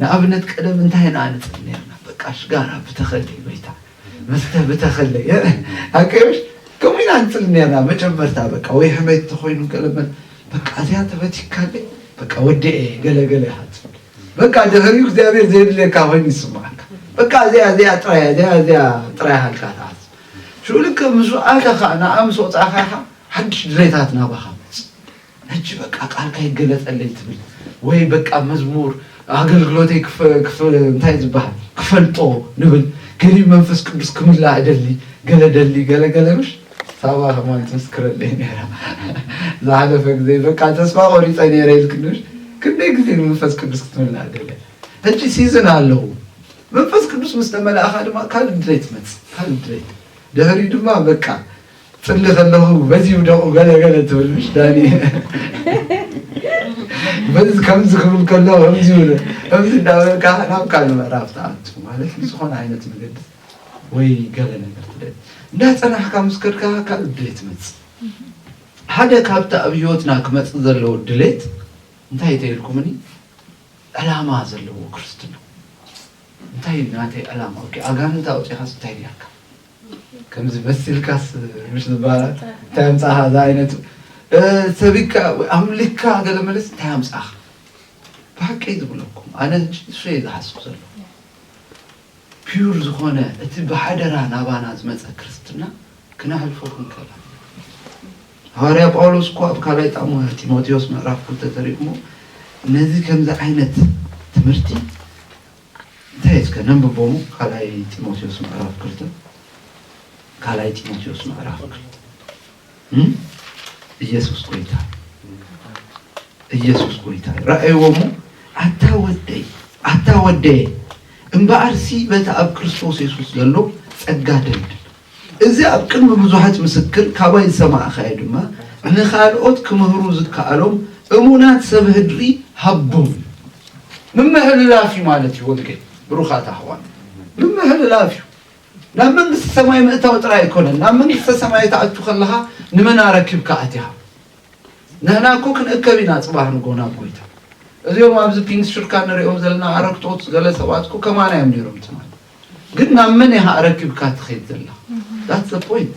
ንኣብነት ቀደም እንታይ ኢና ንጽል ነርና በቃ ሽጋራ ብተኸለይ ወይታ መስተ ብተኸለይ ኣቀዮሽ ከምኡ ኢና ንጽል ነርና መጀመርታ በቃ ወይ ሕሜት ተኾይኑ ገለመል በቃ እዚኣ ተበቲካለይ በቃ ወዲኤ ገለገለ ኢኻ ትብል በቃ ድሕሪኡ እግዚኣብሔር ዘየድልየካ ኮይኑ ይስምዓካ በቃ እዚኣ እዚኣ ጥራይ እዚኣ እዚኣ ጥራይ ሃልካ ትሓስብ ሽዑ ልክዕ ምስ ወዓልካ ኸኣ ንዓ ምስ ወጻእካ ኢኻ ሓድሽ ድሌታት ናባኻ መጽ ሕጂ በቃ ቃልካ ይገለጸለይ ትብል ወይ በቃ መዝሙር ኣገልግሎተይ እንታይ ዝበሃል ክፈልጦ ንብል ገሊኡ መንፈስ ቅዱስ ክምላ እደሊ ገለ ደሊ ገለ ገለ ምሽ ሳባ ከማን ትምስክረለይ ነራ ዝሓለፈ ግዜ በቃ ተስፋ ቆሪፀ ነረ ኢልክንሽ ክንደይ ግዜ መንፈስ ቅዱስ ክትምላ እደለ ሕጂ ሲዝን ኣለዉ መንፈስ ቅዱስ ምስ ተመላእኻ ድማ ካልእ ድሌት ይመጽእ፣ ካልእ ድሌት ድሕሪኡ ድማ በቃ ጽሊ ከለኹ በዚ ይውደቑ ገለ ገለ ትብል ምሽ ዳኒ በዚ ከምዚ ክብል ከለኹ ከምዚ ይብለ ከምዚ እንዳበልካ ናብ ካልእ ምዕራፍ ትኣቱ ማለት ብዝኾነ ዓይነት መገዲ ወይ ገለ ነገር ትደል እንዳጸናሕካ ምስ ከድካ ካልእ ድሌት ይመጽእ ሓደ ካብቲ ኣብ ህይወትና ክመጽእ ዘለዎ ድሌት እንታይ ተይልኩምኒ ዕላማ ዘለዎ ክርስትና እንታይ እዩ ናተይ ዕላማ ኦኬ ኣጋንንቲ ኣውጺኻስ እንታይ ጌርካ ከምዚ መሲልካስ ምሽ ዝበሃል እንታይ ኣምጻኻ እዛ ዓይነቱ ሰቢካ ኣምሊካ ገለ መለስ እንታይ ኣምጻኻ ብሓቂ ዝብለኩም ኣነ ንሱ እየ ዝሓስብ ዘሎ ፒዩር ዝኾነ እቲ ብሓደራ ናባና ዝመጸ ክርስትና ክነሕልፎ ክንክእል ኣሎና። ሃዋርያ ጳውሎስ እኮ ኣብ ካልኣይ ጣዕሙ ጢሞቴዎስ ምዕራፍ ክልተ ተሪጉሞ ነዚ ከምዚ ዓይነት ትምህርቲ እንታይ እስከ ነንብቦ እሞ ካልኣይ ጢሞቴዎስ ምዕራፍ ክልተ ካልኣይ ጢሞቴዎስ ምዕራፍ ክልተ እየሱስ ጎይታ እየሱስ ጎይታ ራእይዎ እሞ ኣታ ወደይ ኣታ ወደየ እምበኣርሲ በቲ ኣብ ክርስቶስ የሱስ ዘሎ ጸጋ ደልድል እዚ ኣብ ቅድሚ ብዙሓት ምስክር ካባይ ዝሰማዕኻዮ ድማ ንኻልኦት ክምህሩ ዝከኣሎም እሙናት ሰብ ህድሪ ሃቦም ምምሕልላፍ እዩ ማለት እዩ ወንጌል ብሩኻት ኣሕዋት ምምሕልላፍ እዩ ናብ መንግስቲ ሰማይ ምእታው ጥራይ ኣይኮነን ናብ መንግስተ ሰማይ ትኣቱ ከለኻ ንመን ኣረኪብካ ኣቲኻ ንህና እኮ ክንእከብ ኢና ጽባህ ንጎ ናብ ጎይታ እዚኦም ኣብዚ ፒንክ ሽርካ ንሪኦም ዘለና ኣረግቶት ገለ ሰባት እኮ ከማና እዮም ነይሮም ትማል ግን ናብ መን ኢኻ ኣረኪብካ ትኸይድ ዘላ ዳት ዘ ፖይንት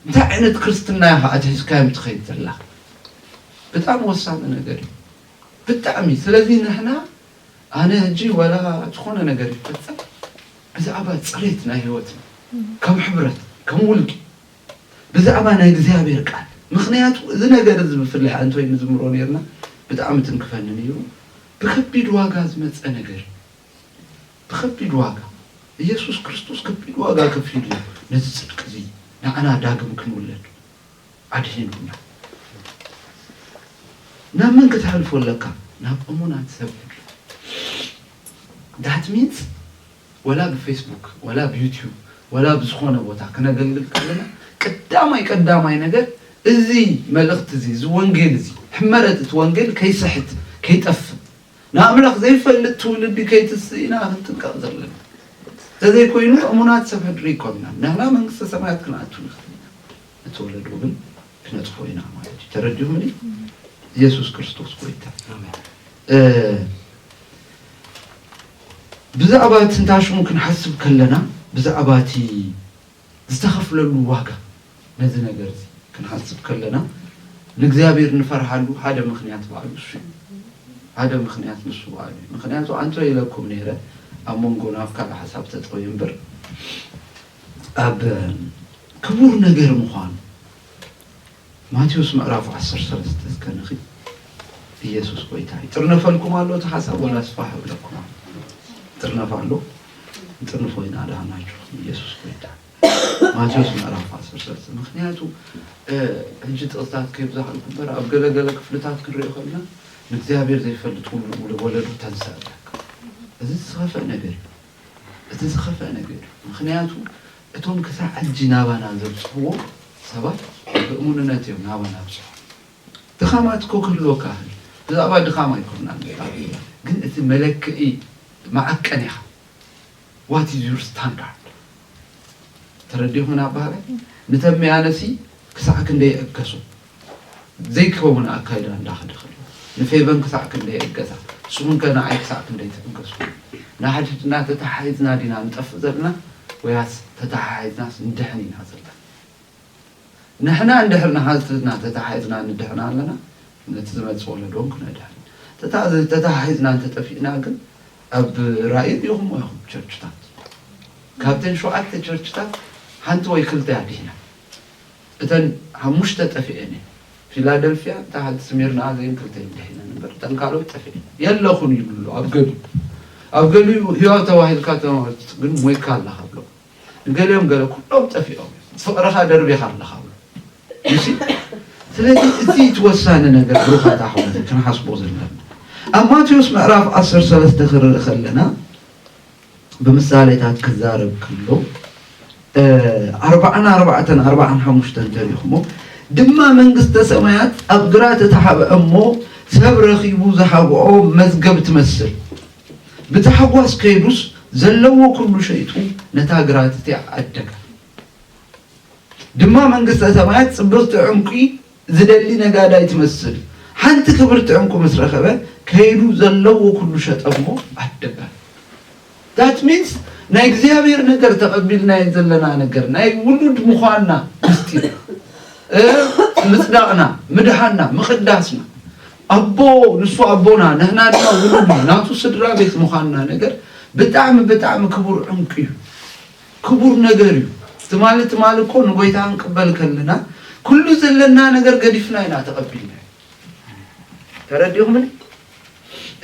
እንታይ ዓይነት ክርስትና ኢኻ ኣትሒዝካዮም ትኸይድ ዘላ ብጣዕሚ ወሳኒ ነገር እዩ ብጣዕሚ ስለዚ ንሕና ኣነ ሕጂ ወላ ዝኾነ ነገር ይፈፀም ብዛዕባ ጽሬት ናይ ሕይወትና ከም ሕብረት ከም ውልቂ ብዛዕባ ናይ እግዚኣብሔር ቃል ምኽንያቱ እዚ ነገር እዚ ብፍላይ ኣንቶይ ንዝምሮ ነርና ብጣዕሚ ትንክፈኒ ነሩ ብከቢድ ዋጋ ዝመጸ ነገር እዩ ብከቢድ ዋጋ ኢየሱስ ክርስቶስ ከቢድ ዋጋ ከፊሉ እዩ ነዚ ጽድቂ እዚ ንዓና ዳግም ክንውለድ ኣድሂኑና ናብ መን ክተሕልፎ ኣለካ ናብ እሙናት ሰብ That means ወላ ብፌስቡክ ወላ ብዩቱብ ወላ ብዝኾነ ቦታ ክነገልግል ከለና ቀዳማይ ቀዳማይ ነገር እዚ መልእኽቲ እዚ እዚ ወንጌል እዚ ሕመረት እቲ ወንጌል ከይሰሕት ከይጠፍእ ንኣምላኽ ዘይፈልጥ ትውልዲ ከይትስእ ኢና ክንጥንቀቕ ዘለና ተዘይኮይኑ እሙናት ሰብ ሕድሪ ይኮንና ንሕና መንግስተ ሰማያት ክንኣቱ ንኽእል ኢና እቲ ወለዶ ግን ክነጥፎ ኢና ማለት እዩ ተረዲኡምኒ ኢየሱስ ክርስቶስ ጎይታ ብዛዕባ ትንታሽሙ ክንሓስብ ከለና ብዛዕባ እቲ ዝተኸፍለሉ ዋጋ ነዚ ነገር እዚ ክንሓስብ ከለና ንእግዚኣብሔር ንፈርሃሉ ሓደ ምክንያት በዓሉ እሱ እዩ። ሓደ ምክንያት ንሱ በዓሉ እዩ። ምክንያቱ ኣንቶ ኢለኩም ነይረ ኣብ መንጎና ኣብ ካልእ ሓሳብ ተጠውየ እምበር ኣብ ክቡር ነገር ምዃኑ ማቴዎስ ምዕራፍ ዓሰርተ ሰለስተ እስከ ንኺድ ኢየሱስ ጎይታ ይጥርነፈልኩም ኣሎ እቲ ሓሳብ ወላስ ፋሕ እብለኩም ኣሎ ይጥርነፍ ኣሎ ንጥርንፎ ኢና ዳህናችሁ ኢየሱስ ጎይታ ማቴዎስ ምዕራፍ ዓሰርተ ሰለስተ ምክንያቱ እ፣ ሕጂ ጥቕስታት ከይብዛሕልኩ እምበር ኣብ ገለገለ ክፍልታት ክንሪኦ ከለና ንእግዚኣብሔር ዘይፈልጥ ውሉ ውሉ ወለዱ ተንስእ ኣለካ እዚ ዝኸፍእ ነገር እዩ እቲ ዝኸፍእ ነገር እዩ ምክንያቱ እቶም ክሳዕ ሕጂ ናባና ዘብጽሕዎ ሰባት ብእሙንነት እዮም ናባና ኣብጺሖም። ድኻማት እኮ ክህልወካ ይኽእል እዩ። ብዛዕባ ድኻም ኣይኮናን ኣቢልና ግን እቲ መለክዒ መዐቀኒኻ what is your standard ተረዲኹም ኣበሃላይ ንተምያነሲ ክሳዕ ክንደይ ይዕገሱ? ዘይከውን ኣካይዳ እንዳኸደ ከሎ ንፌቨን ክሳዕ ክንደይ እገዛ ንስኹም ከ ንዓይ ክሳዕ ክንደይ ትእገሱኒ? ንሓድሕድና ተተሓሒዝና ዲና ንጠፍእ ዘለና ወያስ ተተሓሒዝናስ ንድሕን ኢና ዘለና? ንሕና እንድሕር ንሓድሕድና ተተሓሒዝና ንድሕን ኣለና ነቲ ዝመጽእ ወለዶ ውን ክነድሕን ተተሓሒዝና እንተጠፊእና ግን ኣብ ራኢ ሪኢኹምዎ ኢኹም ቸርችታት ካብተን ሸውዓተ ቸርችታት ሓንቲ ወይ ክልተ እያ ዲሒና። እተን ሓሙሽተ ጠፊኤን እየን ፊላደልፍያ እታ ሓንቲ ስሚርና እዚኤን ክልተ እየን ድሒነን እምበር እተን ካልኦት ጠፊኤን የለኹን ይብሉ ኣለዉ ኣብ ገሊኡ ኣብ ገሊኡ ህያው ተባሂልካ ተማህርት ግን ሞይካ ኣለኻ ብሎ ንገሊኦም ገለ ኩሎም ጠፊኦም ፍቕርኻ ደርቢኻ ኣለኻ ብሎ እሺ ስለዚ እቲ እቲ ወሳኒ ነገር ብሩኻት ኣሕዋት ክንሓስቦ ዘለና ኣብ ማቴዎስ ምዕራፍ 13 ክርኢ ከለና ብምሳሌታት ክዛረብ ከሎ ኣርብዓን ኣርባዕተን ኣርብዓን ሓሙሽተን ተሪኽሞ ድማ መንግስተ ሰማያት ኣብ ግራት እቲ ሓብአ እሞ ሰብ ረኺቡ ዝሓብኦ መዝገብ ትመስል ብታሕጓስ ከይዱስ ዘለዎ ኩሉ ሸይጡ ነታ ግራት እቲኣ ዓደጋ ድማ መንግስተ ሰማያት ጽብቕቲ ዕንቊ ዝደሊ ነጋዳይ ትመስል ሓንቲ ክብርቲ ዕንቁ ምስ ረኸበ ከይዱ ዘለዎ ኩሉ ሸጠ እሞ ዓደጋ that means ናይ እግዚኣብሔር ነገር ተቐቢልናዮ ዘለና ነገር ናይ ውሉድ ምዃንና ምስጢር ምጽዳቕና ምድሓና ምቕዳስና ኣቦ ንሱ ኣቦና ንሕና ድማ ውሉድ ናቱ ስድራ ቤት ምዃንና ነገር ብጣዕሚ ብጣዕሚ ክቡር ዕንቁ እዩ። ክቡር ነገር እዩ ትማሊ ትማሊ እኮ ንጎይታ ክንቅበል ከለና ኩሉ ዘለና ነገር ገዲፍና ኢና ተቀቢልናዮ ተረዲእኹምኒ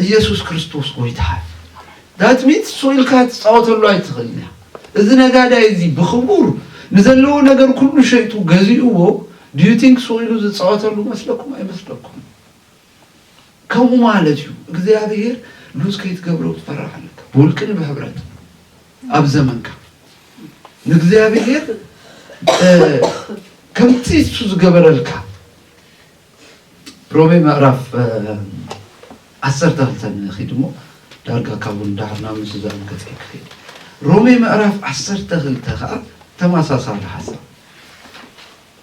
ኢየሱስ ክርስቶስ ጎይታ እዩ ዳት ሚንስ እሱ ኢልካ ትፃወተሉ ኣይትኽእልን እያ እዚ ነጋዳይ እዚ ብክቡር ንዘለዎ ነገር ኩሉ ሸይጡ ገዚእዎ ዲዩ ቲንክ ሱቅ ኢሉ ዝፃወተሉ መስለኩም ኣይመስለኩም ከምኡ ማለት እዩ እግዚኣብሔር ሉዝ ከይትገብረው ትፈርሕ ኣለካ ብውልቅን ብሕብረት ኣብ ዘመንካ ንእግዚኣብሔር ከምቲ እሱ ዝገበረልካ ሮሜ ምዕራፍ ዓሰርተ ክልተ ንኺድ እሞ ዳርጋ ካብኡ ንዳሕር ናብ ምስ ዝዛረብ ገፅ ክኸይድ ሮሜ ምዕራፍ ዓሰርተ ክልተ ከዓ ተመሳሳሊ ሓሳብ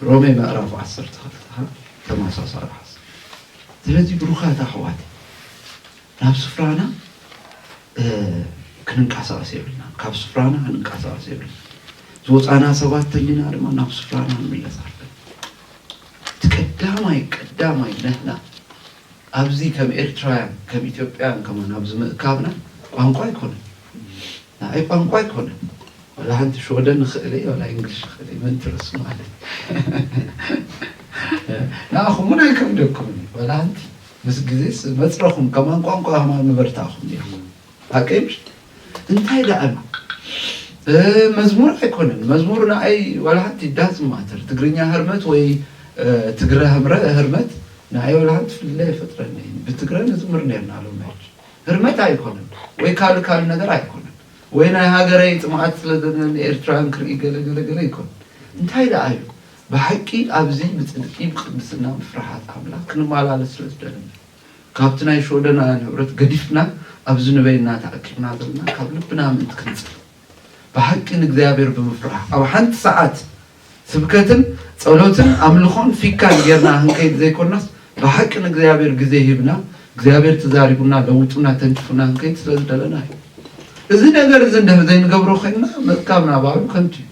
ሮሜ ምዕራፍ ዓሰርተ ክልተ ከኣ ተመሳሳሊ ሓሳብ ስለዚ ብሩካት ኣሕዋት ናብ ስፍራና ክንንቃሳቀስ የብልናን ካብ ስፍራና ክንንቃሳቀስ የብልና ዝወፃና ሰባት ተሊና ድማ ናብ ስፍራና ክንምለስ ኣለና እቲ ቀዳማይ ቀዳማይ ንሕና ኣብዚ ከም ኤርትራውያን ከም ኢትዮጵያን ከማን ኣብዚ ምእካብና ቋንቋ ኣይኮነን ንዓይ ቋንቋ ኣይኮነን ዋላ ሓንቲ ሽወደን ይኽእል እየ ዋላ ኢንግሊሽ ይኽእል እየ ምን ትርስ ማለት ንዓኹም እውን ኣይከብደኩምን እዩ ዋላ ሓንቲ ምስ ግዜስ መፅረኹም ከማን ቋንቋ ከማን ምበርታኹም ኔርኩም ሓቀይ ምሽ እንታይ ደኣ መዝሙር ኣይኮነን መዝሙር ንዓይ ዋላ ሓንቲ ዳዝ ማተር ትግርኛ ህርመት ወይ ትግረ ህርመት ንዓይ ዋላ ሓንቲ ፍልልይ ኣይፈጥረለይን ብትግረ ንዝምር ኔርና ሎሚ ሕጂ ህርመት ኣይኮነን ወይ ካልእ ካልእ ነገር ኣይኮነን ወይ ናይ ሃገረይ ጽምኣት ስለ ዘለኒ ኤርትራውያን ክርኢ ገለ ገለ ገለ ኣይኮነን እንታይ ደኣ እዩ ብሓቂ ኣብዚ ብጽድቂ ብቅድስና ብፍርሓት ኣምላኽ ክንማላለስ ስለ ዝደለና ካብቲ ናይ ሽወደናውያን ህብረት ገዲፍና ኣብዚ ንበይንና ተኣኪብና ዘለና ካብ ልብና ምእንቲ ክንጽሊ ብሓቂ ንእግዚኣብሔር ብምፍራሕ ኣብ ሓንቲ ሰዓት ስብከትን ጸሎትን ኣምልኾን ፊካን ጌርና ክንከይድ ዘይኮናስ ብሓቂ ንእግዚኣብሔር ግዜ ሂብና እግዚኣብሔር ተዛሪቡና ለውጡና ተንኪፉና ክንከይድ ስለ ዝደለና እዩ። እዚ ነገር እዚ እንድሕር ዘይንገብሮ ኮይንና ምእካብና ባዕሉ ከንቱ እዩ።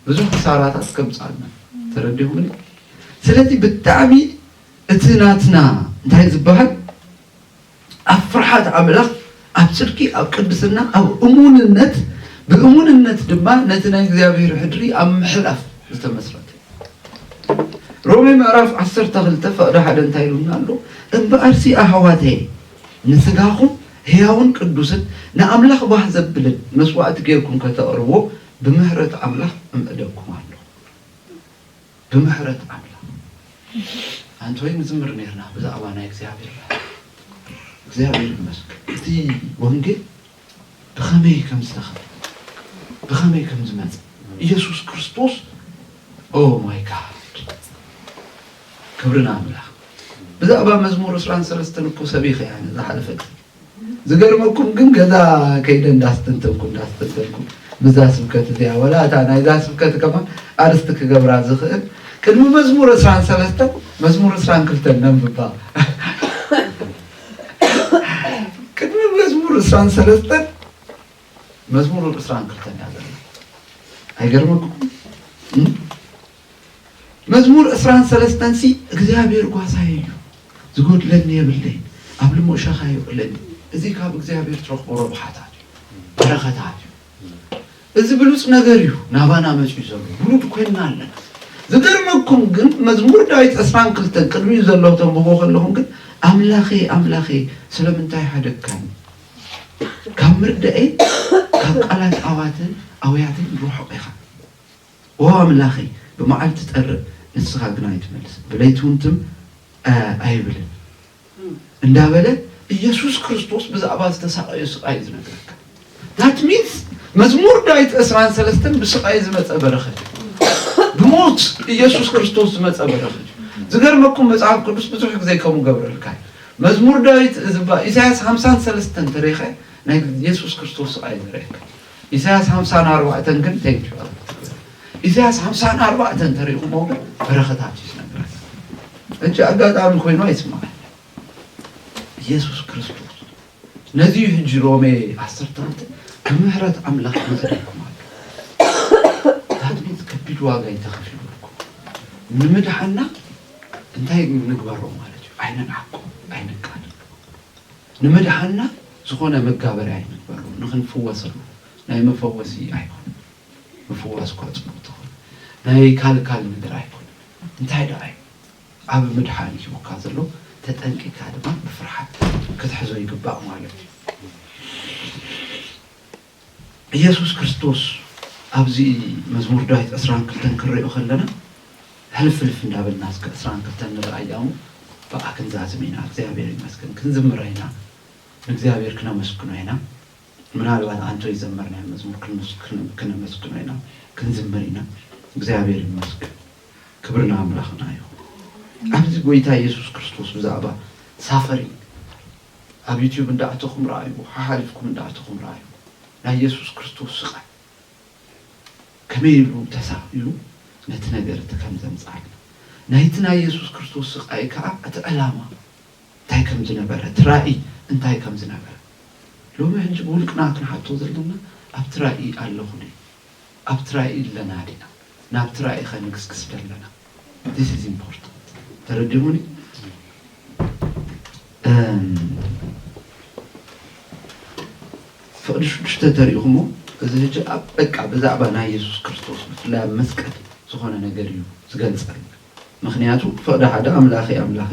ብዙሕ ክሳራታት ከምጽኣልና ተረዲኹምኒ። ስለዚ ብጣዕሚ እቲ ናትና እንታይ ዝበሃል ኣብ ፍርሓት ኣምላኽ፣ ኣብ ጽድቂ፣ ኣብ ቅድስና፣ ኣብ እሙንነት፣ ብእሙንነት ድማ ነቲ ናይ እግዚኣብሔር ሕድሪ ኣብ ምሕላፍ ዝተመስረተ እዩ። ሮሜ ምዕራፍ ዓሰርተ ክልተ ፍቕዲ ሓደ እንታይ ኢሉና ኣሎ? እምበኣርሲ ኣሕዋተየ፣ ንሥጋኹም ሕያውን ቅዱስን ንኣምላኽ ባህ ዘብልን መሥዋዕቲ ጌርኩም ከተቕርብዎ ብምሕረት ኣምላኽ እምዕደኩም ኣለኹ። ብምሕረት ኣምላኽ ኣንቲ ወይ ንዝምር ነርና ብዛዕባ ናይ እግዚኣብሔር ራህዋ እግዚኣብሔር ይመስገን እቲ ወንጌል ብኸመይ ከም ዝተኸፍለ ብኸመይ ከም ዝመጸ ኢየሱስ ክርስቶስ ኦ ማይ ጋድ ክብሪ ንኣምላኽ ብዛዕባ መዝሙር ዕስራን ሰለስተን እኮ ሰቢኸ እያ ዝሓለፈት ዝገርመኩም ግን ገዛ ከይደ እንዳስተንተንኩ እንዳስተንተንኩ ምስዛ ስብከት እዚኣ ወላ እታ ናይዛ ስብከት ከማን ኣርስቲ ክገብራ ዝኽእል ቅድሚ መዝሙር ዕስራን ሰለስተን መዝሙር ዕስራን ክልተን ነንብባ ቅድሚ መዝሙር ዕስራን ሰለስተን መዝሙር ዕስራን ክልተን እያ ዘላ ኣይገርመኩም መዝሙር ዕስራን ሰለስተን ሲ እግዚኣብሔር ጓሳየ እዩ ዝጎድለኒ የብለይን ኣብ ልሙእ ሸኻ የውዕለኒ እዚ ካብ እግዚኣብሔር ትረኽቦ ረብሓታት እዩ በረኸታት እዩ እዚ ብሉፅ ነገር እዩ ናባና መፅዩ ዘሎ ብሉድ ኮይንና ኣለና ዝገርመኩም ግን መዝሙር ዳዊት ዕስራን ክልተን ቅድሚኡ ዘለዉ ተንብቦ ከለኹም ግን ኣምላኸ ኣምላኸ ስለምንታይ ሓደግካኒ ካብ ምርዳኤ ካብ ቃላት ኣዋትን ኣውያትን ርሑቕ ኢኻ ኦ ኣምላኸይ፣ ብመዓልቲ ትጠርእ፣ ንስኻ ግና ኣይትመልስን፣ ብለይቲውን ትም ኣይብልን እንዳበለ ኢየሱስ ክርስቶስ ብዛዕባ ዝተሳቐዮ ስቓይ እዩ ዝነግረካ። ዳት ሚንስ መዝሙር ዳዊት ዕስራን ሰለስተን ብስቓይ ዝመፀ በረኸት እዩ። ብሞት ኢየሱስ ክርስቶስ ዝመፀ በረኸት እዩ። ዝገርመኩም መጽሓፍ ቅዱስ ብዙሕ ጊዜ ከምኡ ገብረልካ እዩ። መዝሙር ዳዊት እዝባ ኢሳያስ ሓምሳን ሰለስተን ተሪኸ ናይ ኢየሱስ ክርስቶስ ስቓይ እዩ ዘርእየካ። ኢሳያስ ሓምሳን ኣርባዕተን ግን ተይትሕቅሩ ኢሳያስ ሓምሳን ኣርባዕተን ተሪእኹሞ ግን በረኸታት እዩ ዝነብር እጅ ኣጋጣሚ ኮይኑ ኣይስማዕ ኢየሱስ ክርስቶስ ነዚ እዩ ሕጂ ሮሜ ዓሰርተ ክልተ ብምሕረት ኣምላኽ መፅሪኩም ኣሎ ዳግሚት ከቢድ ዋጋ እዩ ተኸፊሉልኩም ንምድሓና እንታይ ንግበሮ ማለት እዩ ኣይንንዓቆ ኣይንቃ ንምድሓንና ዝኾነ መጋበርያ ኣይንግበሮ ንኽንፍወሰሉ ናይ መፈወሲ ኣይኮነን ምፍዋስ እኳ ጽቡቅ ተኾነ ናይ ካልካል ነገር ኣይኮነን እንታይ ደኣ እዩ ዓቢ ምድሓን ሂቡካ ዘሎ ተጠንቂካ ድማ ብፍርሓት ክትሕዞ ይግባእ ማለት እዩ። ኢየሱስ ክርስቶስ ኣብዚ መዝሙር ዳዊት ዕስራን ክልተን ክንሪኦ ከለና ሕልፍ ሕልፍ እንዳበልና እስከ ዕስራን ክልተን ንርኣያ እሞ ብኣ ክንዛዝም ኢና እግዚኣብሔር ይመስገን ክንዝምራ ኢና ንእግዚኣብሔር ክነመስግኖ ኢና ምናልባት ኣንቶ ይዘመርናዮ መዝሙር ክነመስግኖ ኢና ክንዝምር ኢና እግዚኣብሔር ይመስገን ክብሪ ንኣምላኽና ይኹን ኣብዚ ጎይታ ኢየሱስ ክርስቶስ ብዛዕባ ሳፈሪንግ ኣብ ዩቱብ እንዳ ኣተኹም ርኣይዎ ሓሓሊፍኩም እንዳ ኣተኹም ርኣይዎ ናይ የሱስ ክርስቶስ ስቓይ ከመይ ኢሉ ተሳቒሉ ነቲ ነገር እቲ ከም ዘምጽኣልና ናይቲ ናይ የሱስ ክርስቶስ ስቓይ ከኣ እቲ ዕላማ እንታይ ከም ዝነበረ እቲ ራኢ እንታይ ከም ዝነበረ ሎሚ ሕጂ ብውልቅና ክንሓቶ ዘለና ኣብቲ ራኢ ኣለኹ ድየ ኣብቲ ራኢ ኣለና ዲና ናብቲ ራኢኸ ንግስግስ ደለና this is important ተረዲኡኒ ፍቕዲ ሽዱሽተ ተሪእኹሞ እዚ ሕጂ ኣብ በቃ ብዛዕባ ናይ የሱስ ክርስቶስ ብፍላይ ኣብ መስቀል ዝኾነ ነገር እዩ ዝገልጸል ምክንያቱ ፍቕዲ ሓደ ኣምላኺ ኣምላኺ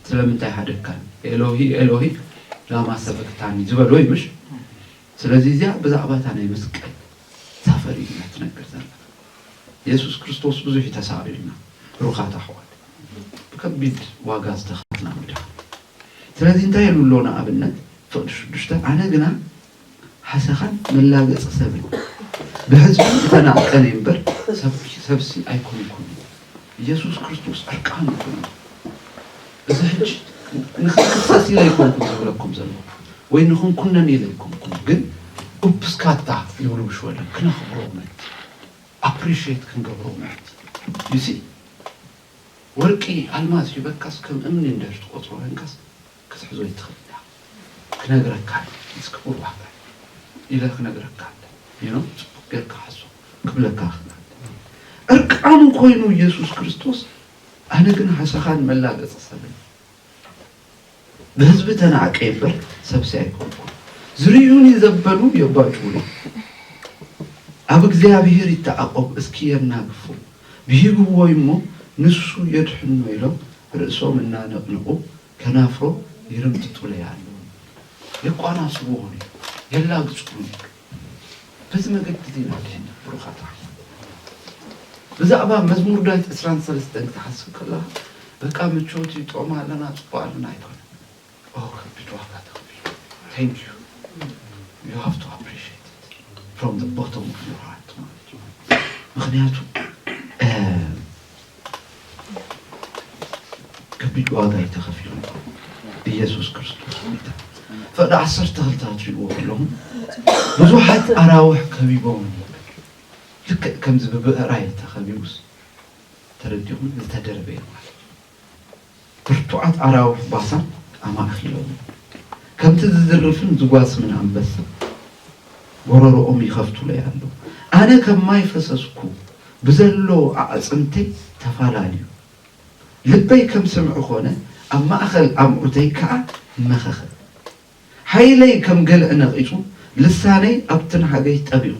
ስለምንታይ ሓደካን ኤሎሂ ኤሎሂ ላማ ሰበክታኒ ዝበሎ እዩ ምሽ ስለዚ እዚኣ ብዛዕባ እታ ናይ መስቀል ዛፈ ርእይና ትነግር ዘላ የሱስ ክርስቶስ ብዙሕ እዩ ተሳቂዩልና ብሩኻት ኣሕዋት ብከቢድ ዋጋ ዝተኸፍልና ምድሓን ስለዚ እንታይ ኢሉ ኣሎ ንኣብነት ፍቅዲ ሽዱሽተ ኣነ ግና ሓሰኻን መላገጺ ሰብን ብሕዝቢ ዝተናቀን እምበር ሰብሲ ኣይኮንኩን ኢየሱስ ክርስቶስ ዕርቃኑ ኮይኑ እዚ ሕጂ ንኽንክሰስ ኢለ ኣይኮንኩን ዝብለኩም ዘለኹ ወይ ንኽንኩነን ኢለ ኣይኮንኩን ግን ኡፕስካታ ይብሉ ብሽወደን ክነኽብሮ ምእንቲ ኣፕሪሽየት ክንገብሮ ምእንቲ ዩ ሲ ወርቂ ኣልማዝ ሂበካስ ከም እምኒ እንድሕር ትቆጽሮ ኮንካስ ክትሕዞ ይትኽእል ኢኻ ክነግረካ ኣለኒ ምስ ክቡር ዋዕታይ ኢለ ክነግረካ ኣለኒ ሄኖክ ጽቡቅ ጌርካ ሓዞ ክብለካ ይኽእል ኣለኒ ዕርቃኑ ኮይኑ ኢየሱስ ክርስቶስ ኣነ ግን ሃሰኻን መላገጺ ሰብን ብህዝቢ ተናዕቀ እምበር ሰብሲ ኣይኮንኩን ዝርዩኒ ዘበሉ የባጭውኒ ኣብ እግዚኣብሔር ይተዓቆብ እስኪ የናግፉ ብሂግዎ እሞ ንሱ የድሕኖ ኢሎም ርእሶም እናነቅነቁ ከናፍሮ ይርምጥጡለይ ኣለዉ፣ የቋናስቡዎኒ፣ የላግጹኒ። በዚ መገዲ እዚ ኢና ድሒና ብሩኻት ኣሕዋት። ብዛዕባ መዝሙር ዳዊት ዕስራን ሰለስተን ክትሓስብ ከለኻ በቃ ምቾት እዩ፣ ጥዑም ኣለና፣ ጽቡቕ ኣለና ኣይኮነን። ኦ ከቢድ ዋጋ ተኸፊሉ። Thank you you have to appreciate it from the bottom of your heart ማለት እዩ። ምኽንያቱ ከቢድ ዋጋ እዩ ተኸፊሉ ኢየሱስ ክርስቶስ ጎይታ ፈቅዲ ዓሰርተ ክልተ ክትሪእዎ ከለኹም ብዙሓት ኣራውሕ ከቢቦም ነበር ልክዕ ከምዚ ብብዕራይ ተኸቢቡስ ተረዲኹም ዝተደርበየ ማለት ብርቱዓት ኣራዊሕ ባሳን ኣማእኪሎምኒ፣ ከምቲ ዝዝርፍን ዝጓስምን ኣንበሳ፣ ጐረሮኦም ይኸፍቱለይ ኣለዉ። ኣነ ከም ማይ ፈሰስኩ፣ ብዘሎ ኣዕጽምተይ ተፋላልዩ። ልበይ ከም ስምዒ ዀነ፣ ኣብ ማእከል ኣምዑተይ ከኣ መኸኸ። ሓይለይ ከም ገልዒ ነቒጹ፣ ልሳነይ ኣብ ትንሃገይ ጠቢቑ።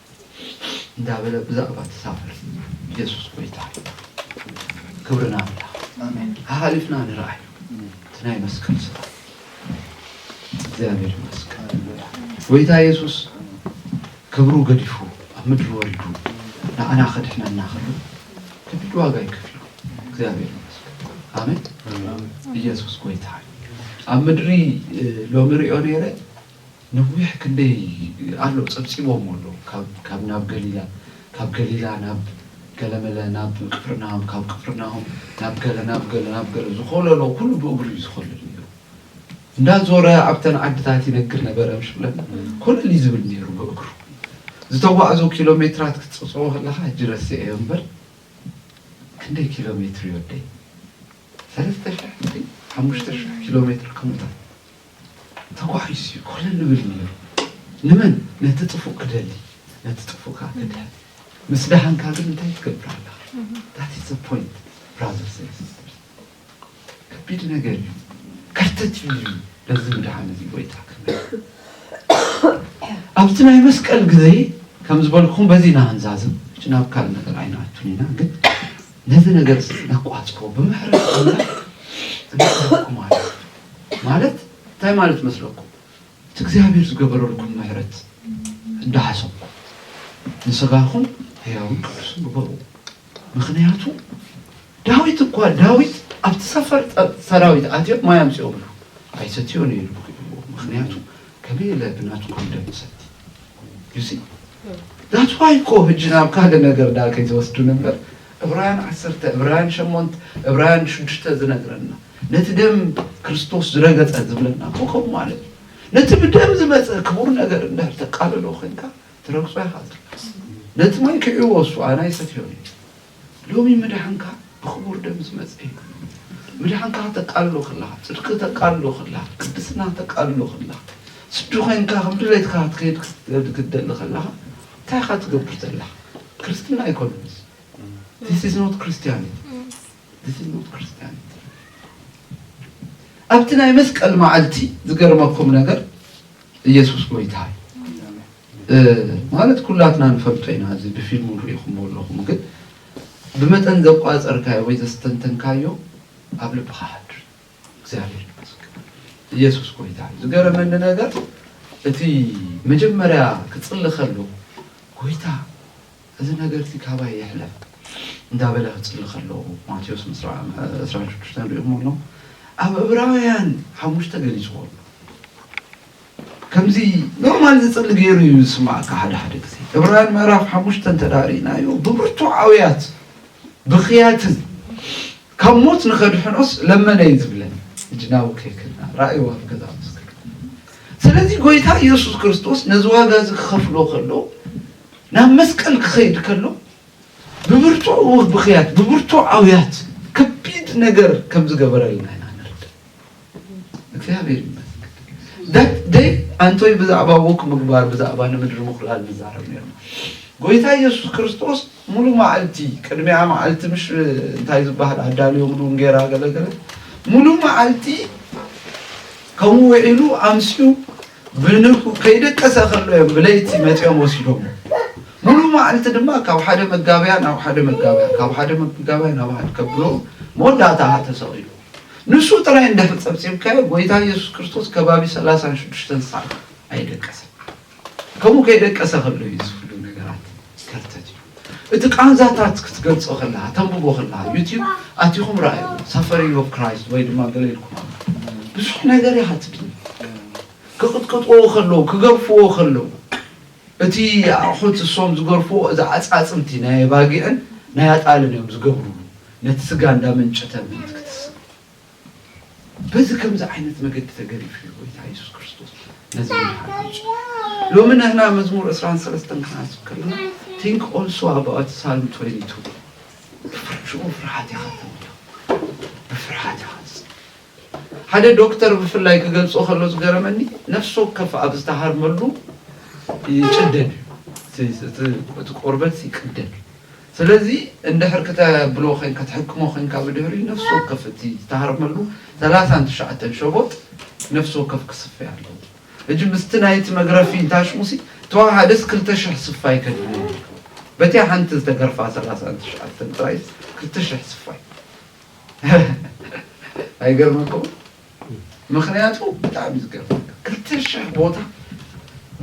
እንዳበለ ብዛዕባ ተሳፈርቲ የሱስ ጎይታ እዩ ክብሪ ንኣምላኽ ሓሓሊፍና ንርኣይ እቲ ናይ መስቀል ስራ እግዚኣብሔር ይመስገን ጎይታ የሱስ ክብሩ ገዲፉ ኣብ ምድሪ ወሪዱ ንዓና ከድሕነና ከሎ ከቢድ ዋጋ ይከፍሉ እግዚኣብሔር ይመስገን ኣሜን ኢየሱስ ጎይታ እዩ ኣብ ምድሪ ሎሚ ሪኦ ነይረ ነዊሕ ክንደይ ኣሎ ጸብጺቦሞ ኣሎ ካብ ካብ ናብ ገሊላ ካብ ገሊላ ናብ ገለመለ ናብ ቅፍርናሆም ካብ ቅፍርናሆም ናብ ገለ ናብ ገለ ናብ ገለ ዝኾለሎ ኩሉ ብእግሩ እዩ ዝኾልል ኔሩ እንዳ ዞረ ኣብተን ዓድታት ይነግር ነበረ ምሽ ብለና ኮለል እዩ ዝብል ኔሩ ብእግሩ ዝተጓዕዞ ኪሎሜትራት ክትጽብጽቦ ከለኻ ሕጂ ረሲዐዮ እምበር ክንደይ ኪሎሜትር እዩ ወደይ ሰለስተ ሽሕ ድዩ ሓሙሽተ ሽሕ ኪሎሜትር ከምኡ ታት ተዋሒሱ እዩ ኮለል ልብል ነይሩ ንመን ነቲ ጥፉእ ክደሊ ነቲ ጥፉእ ከኣ ክድሕን ምስ ደሃንካ ግን እንታይ ትገብር ኣለኻ that is the point brothers and sisters ከቢድ ነገር እዩ ከርተት እዩ ኢሉ ነዚ ምድሓን እዚ ጎይታ ክብል ኣብቲ ናይ መስቀል ግዜ ከም ዝበልኩም በዚ ኢና ክንዛዝም እች ናብ ካልእ ነገር ኣይንኣቱን ኢና ግን ነዚ ነገር ነቋፅሮ ብምሕረት ኣምላኽ እንተኩም ኣሎ ማለት እንታይ ማለት መስለኩም እቲ እግዚኣብሔር ዝገበረልኩም ምሕረት እንዳሓሰብኩም ንስጋኹም ሕያውን ቅዱስን ግበሩ ምኽንያቱ ዳዊት እኳ ዳዊት ኣብቲ ሰፈር ሰራዊት ኣትዮም ማይ ኣምፅኦምሉ ኣይሰትዮን እዩ ምክንያቱ ከመይ ኢለ ብናቱ ኮንደም ሰቲ ዩሲ ዳትዋይ እኮ ህጂ ናብ ካልእ ነገር ዳ ከይተወስዱ ነበር እብራያን ዓሰርተ እብራያን ሸሞንት እብራያን ሽዱሽተ ዝነግረና ነቲ ደም ክርስቶስ ዝረገጸ ዝብለና እኮ ከምኡ ማለት እዩ። ነቲ ብደም ዝመጸ ክቡር ነገር እንድሕር ተቃልሎ ኮይንካ ትረግጾ ኢኻ ዘለካስ ነቲ ማይ ክዕዎ እሱ ኣና ይሰትዮ እዩ። ሎሚ ምድሓንካ ብክቡር ደም ዝመጸ እዩ። ምድሓንካ ከተቃልሎ ከለኻ ጽድቂ ተቃልሎ ከለኻ ቅድስና ተቃልሎ ከለኻ ስዱ ኮይንካ ከም ድሌትካ ክትከይድ ክትደሊ ከለኻ እንታይ ኢኻ ትገብር ዘለኻ? ክርስትና ኣይኮነን እዚ ዚስ ኢዝ ኖት ክርስቲያኒቲ ንዝሙት ክርስትያን ይትረፍ ኣብቲ ናይ መስቀል መዓልቲ ዝገርመኩም ነገር ኢየሱስ ጎይታ እዩ ማለት ኩላትና ንፈልጦ ኢና እዚ ብፊልሙ ንሪኢኹምዎ ኣለኹም ግን ብመጠን ዘቋፀርካዮ ወይ ዘስተንተንካዮ ኣብ ልብኻ ሓድር እግዚኣብሔር ይመስገን ኢየሱስ ጎይታ እዩ ዝገረመኒ ነገር እቲ መጀመርያ ክፅሊ ከሎ ጎይታ እዚ ነገር'ዚ ካባይ ይሕለፍ እንዳ በለ ክጽሊ ከሎ፣ ማቴዎስ ምስ ረኣ ዕስራን ሽዱሽተን ርእዩ እሞ ኣሎ ኣብ ዕብራውያን ሓሙሽተ ገሊጽዎ ኣሎ። ከምዚ ኖርማል ዝጽሊ ገይሩ እዩ ዝስምዓካ ሓደ ሓደ ግዜ። ዕብራውያን ምዕራፍ ሓሙሽተ እንተድኣ ርኢናዮ ብብርቱዕ ኣውያት ብኽያትን ካብ ሞት ንኸድሕኖስ ለመነ እዩ ዝብለን። ሕጂ ናብኡ ከይከድና ራእይዎ ኣብ ገዛእ ምስክር። ስለዚ ጎይታ የሱስ ክርስቶስ ነዚ ዋጋ'ዚ ክኸፍሎ ከሎ፣ ናብ መስቀል ክኸይድ ከሎ ብብርቱዕ እው ብኽያት ብብርቱዕ ኣውያት ከቢድ ነገር ከም ዝገበረልና ኢና ንርዳእ። እግዚኣብሔር ይመስገን። ዳት ደይ ኣንቶይ ብዛዕባ ውክ ምግባር ብዛዕባ ንምድሪ ምኹላል ንዛረብ ነርና። ጎይታ ኢየሱስ ክርስቶስ ሙሉ መዓልቲ ቅድሚያ መዓልቲ ምሽ እንታይ ዝበሃል ኣዳልዮምሉ እንጌራ ገለገለ ሙሉ መዓልቲ ከምኡ ውዒሉ ኣምስኡ ብንግሁ ከይደቀሰ ከሎ እዮም ብለይቲ መፂኦም ወሲዶሞ። ሙሉእ መዓልቲ ድማ ካብ ሓደ መጋበያ ናብ ሓደ መጋበያ ካብ ሓደ መጋበያ ናብ ሓደ ከብሎ መወዳእታ ኸዓ ተሰቒሉ። ንሱ ጥራይ እንድሕር ፀብፂብካዮ ጎይታ ኢየሱስ ክርስቶስ ከባቢ ሰላሳን ሽዱሽተን ሰዓት ኣይደቀሰን። ከምኡ ከይደቀሰ ከሎ እዩ እዚ ኹሉ ነገራት። ከርተት እዩ እቲ ቃንዛታት ክትገልጾ ከለካ ተንብቦ ከለካ ዩቲዩብ ኣቲኹም ረኣዩ ሳፈሪንግ ኦፍ ክራይስት ወይ ድማ ገለ ኢልኩም ብዙሕ ነገር እያ ትብል ክቕጥቅጥዎ ከለዉ ክገርፍዎ ከለዉ እቲ ኣቑሑት እሶም ዝገርፍዎ እዚ ኣፃፅምቲ ናይ ኣባጊዕን ናይ ኣጣልን እዮም ዝገብርሉ ነቲ ስጋ እንዳመንጨተ ምእንቲ ክትስእ በዚ ከምዚ ዓይነት መገዲ ተገዲፉ እዩ ጎይታ የሱስ ክርስቶስ ነዚ ምድሓን ኣምጺኡ። ሎሚ ንሕና መዝሙር ዕስራን ሰለስተን ክንሓስብ ከለና Think also about Psalm 22 ብብርጭቆ ፍርሓት ኢኻ ትምልእ ብፍርሓት ኢኻ ትጽ ሓደ ዶክተር ብፍላይ ክገልጾ ከሎ ዝገረመኒ ነፍሲ ወከፍ ኣብ ዝተሃርመሉ ይጭደድ እዩ እቲ ቆርበት ይቅደድ ስለዚ እንድሕር ክተብሎ ኮይን ክትሕክሞ ኮይንካ ብድሕሪኡ ነፍሲ ወከፍ እቲ ዝተሃርመሉ ሰላሳን ትሽዓተን ሸቦጥ ነፍሲ ወከፍ ክስፌ ኣለዎ ህጂ ምስቲ ናይቲ መግረፊ እንታሽሙሲ ተዋሃደስ ክልተ ሽሕ ስፋይ ከድሊ ነይሩ በቲያ ሓንቲ ዝተገርፋ ሰላሳን ትሽዓተን ጥራይስ ክልተ ሽሕ ስፋይ ኣይገርመኩምን። ምኽንያቱ ብጣዕሚ እዩ ዝገርመካ ክልተ ሽሕ ቦታ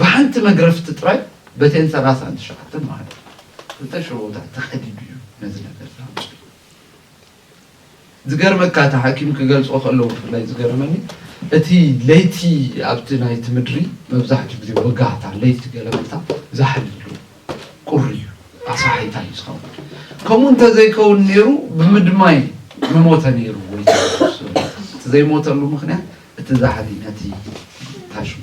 ብሓንቲ መግረፍቲ ጥራይ በተን ሰላሳን ትሽዓተን ማለት እዩ ክልተ ሽሕ ቦታ ተኸዲዱ እዩ ነዚ ነገር ዝሃምፀ ዝገርመካ እቲ ሓኪም ክገልፆ ከለዎ ብፍላይ ዝገርመኒ እቲ ለይቲ ኣብቲ ናይቲ ምድሪ መብዛሕትኡ ግዜ ወጋሕታ ለይቲ ገለመታ ዛሕል ይብሉ ቁሪ እዩ ኣስራሒታይ እዩ ዝኸውን ከምኡ እንተዘይከውን ነይሩ ብምድማይ ምሞተ ነይሩ ጎይታ እቲ ዘይሞተሉ ምክንያት እቲ ዛሕሊ ነቲ ታሽሙ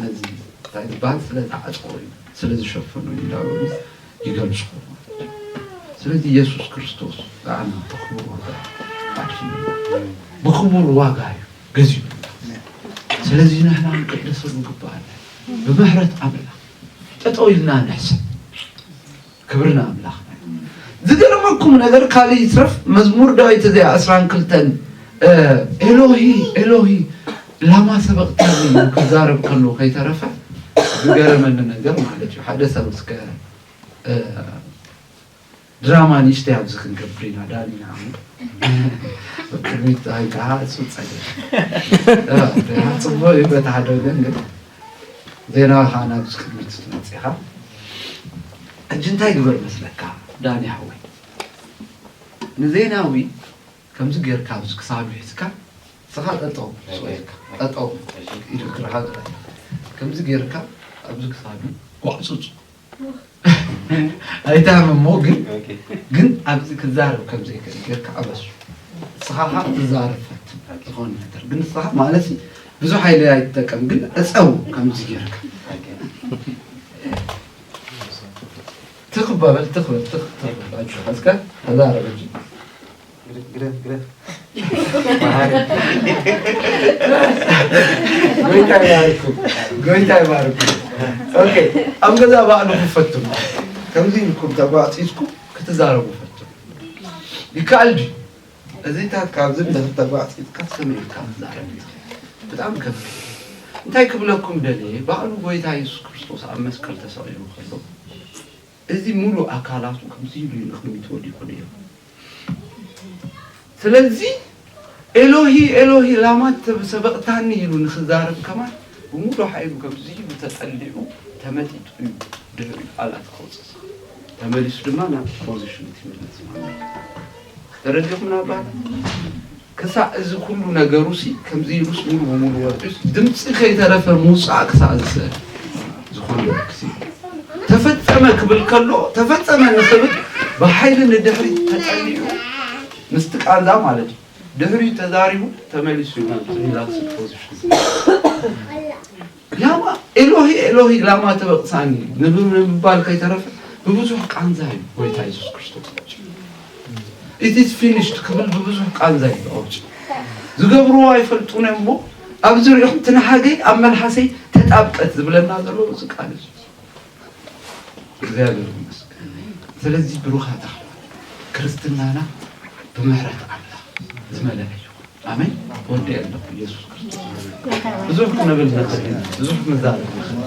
ነዚ እንታይ ዝበሃል ስለዝዓፅቆ እዩ ስለዝሸፈኑ እዩ እንዳበሉ ይገልፁ ስለዚ ኢየሱስ ክርስቶስ ንዓና ብክቡር ዋጋ ብክቡር ዋጋ እዩ ገዚኡ ስለዚ ንሕና ንቅደሰሉ ግባኣና ብምሕረት ኣምላኽ ጠጠው ኢልና ንሕሰብ ክብሪ ንኣምላኽ። ዝገርመኩም ነገር ካልእ ይትረፍ መዝሙር ዳዊት እዚኣ ዕስራን ክልተን ኤሎሂ ኤሎሂ ላማ ሰበቅታኒ ኢሉ ክዛረብ ከሎ ከይተረፈ ዝገረመኒ ነገር ማለት እዩ ሓደ ሰብ እስከ ድራማ ንእሽተይ ኣብዚ ክንገብር ኢና ዳኒ ንዓመት ኣብ ቅድሚት ፀሃይ ከኣ እሱ ፀገም እ፣ ፅቡቅ እዩ በቲ ሓደ ወገን ግን ዜናዊ ከዓ ናብዚ ቅድሚት ትመፅእ ኢኻ ሕጂ እንታይ ግበር መስለካ ዳኒ ሓወይ ንዜናዊ ከምዚ ጌርካ ኣብዚ ክሳዱ ሒዝካ ስኻ ጠጠው ስቕ ኢልካ ጠጠው ኢሉ እግርኻ ግበር ከምዚ ጌርካ ኣብዚ ክሳዱ ጓዕፁፁ ኣይታም እሞ ግን ግን ኣብዚ ክዛረብ ከም ዘይክእል ጌርካ ኣበሱ ንስኻ ከዓ ትዛረብ ፈትን ዝኾነ ነገር ግን ንስኻ ማለት እዩ ብዙሕ ሓይሊ ኣይትጠቀም ግን ዕፀው ከምዚ ጌርካ ትኽ በበል ትኽ በል ትኽ ትኽ በል ኣጆኻ እስከ ተዛረብ እንጂ ግደፍ ግደፍ ግደፍ መሃሪ ጎይታ ይባርኩም ጎይታ ይባርኩም ኦኬ ኣብ ገዛ ባዕሉ ክፈትኑ ከምዚ ኢልኩም ተጓዕፂፅኩም ክትዛረቡ ፈትኑ ይከኣል ድዩ እዚታት ካብዚ ንድሕር ተጓዕፂፅካ ሰመይ ኢልካ ትዛረብ እዩ ብጣዕሚ ከፍ እንታይ ክብለኩም ደልየ ባዕሉ ጎይታ የሱስ ክርስቶስ ኣብ መስቀል ተሰቂሉ ከሎ እዚ ሙሉእ ኣካላቱ ከምዚ ኢሉ ንቕድሚት ወዲቑ ነይሩ። ስለዚ ኤሎሂ ኤሎሂ ላማ ሰበቕታኒ ኢሉ ንኽዛረብ ከማን ብሙሉእ ሓይሉ ከምዚ ኢሉ ተጠሊዑ ተመጢጡ እዩ ድሕሪኡ ቃላት ከውፅእ ዝኽእል። ተመሊሱ ድማ ናብ ፖዚሽኑ እቲ ይምለስ ማለት እዩ። ተረዲኹምና ኣባላት ክሳዕ እዚ ኩሉ ነገሩሲ ከምዚ ኢሉስ ሙሉ ብሙሉ ወጺኡስ ድምጺ ከይተረፈ ምውጻእ ክሳዕ ዝስእል ዝኾነ ተፈጸመ ክብል ከሎ ተፈጸመ ንክብል ብሓይሊ ንድሕሪት ተጠሊዑ ምስቲ ቃንዛ ማለት እዩ ድሕሪት ተዛሪቡ ተመሊሱ ናብ ሪላክስ ፖዚሽን ላማ ኤሎሂ ኤሎሂ ላማ ተበቅሳኒ ንምባል ከይተረፈ ብብዙሕ ቃንዛ እዩ ጎይታ የሱስ ክርስቶስ ኣውጭ ኢትስ ፊኒሽድ ክብል ብብዙሕ ቃንዛ እዩ ኣውጭ ዝገብርዎ ኣይፈልጡን እዮም እሞ ኣብዚ ሪኦም ትንሃገይ ኣብ መልሓሰይ ተጣብቀት ዝብለና ዘሎ እዚ ቃል እዩ እግዚኣብሔር ይመስገን ስለዚ ብሩካት ኣሕዋት ክርስትናና ብምሕረት ኣምላክ ዝመለኣ እዩ ኣሜን ወዲ ኣለኩ ኢየሱስ ክርስቶስ ብዙሕ ክንብል ንክእል ኢና ብዙሕ ክንዛረብ ንክእል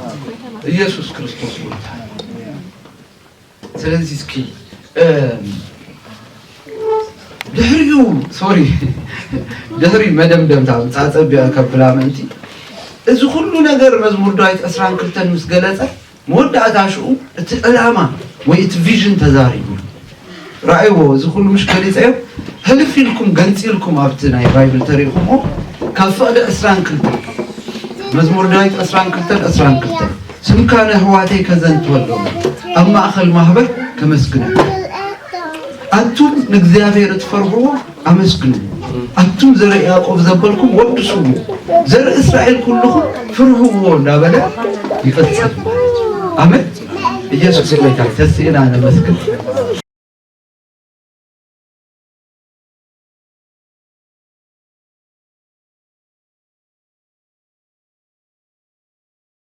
ኢየሱስ ክርስቶስ ጎይታ እዩ ስለዚ እስኪ ድሕሪኡ ሶሪ ድሕሪ መደምደምታ ፃፀቢያ ከብላ ምእንቲ እዚ ኩሉ ነገር መዝሙር ዳዊት ዕስራን ክልተን ምስ ገለፀ መወዳእታ ሽኡ እቲ ዕላማ ወይ እቲ ቪዥን ተዛሪቡ ራእይዎ እዚ ኩሉ ምሽ ገሊፀዮ ህልፍ ኢልኩም ገንፂልኩም ኣብቲ ናይ ባይብል ተሪእኹምዎ ካብ ፍቕዲ ዕስራን ክልተን መዝሙር ዳዊት ዕስራን ክልተን ዕስራን ክልተን ስምካ ንኣሕዋተይ ከዘንትወሎም ኣብ ማእኸል ማህበር ከመስግነካ ኣቱም ንእግዚኣብሔር እትፈርህዎ ኣመስግንዎ ኣቱም ዘርኢ ያዕቆብ ዘበልኩም ወድስዎ ዘርኢ እስራኤል ኩልኹም ፍርህዎ እንዳበለ ይቐጽል ማለት እዩ። ኣመን ኢየሱስ ጌታ ተስእና ነመስግን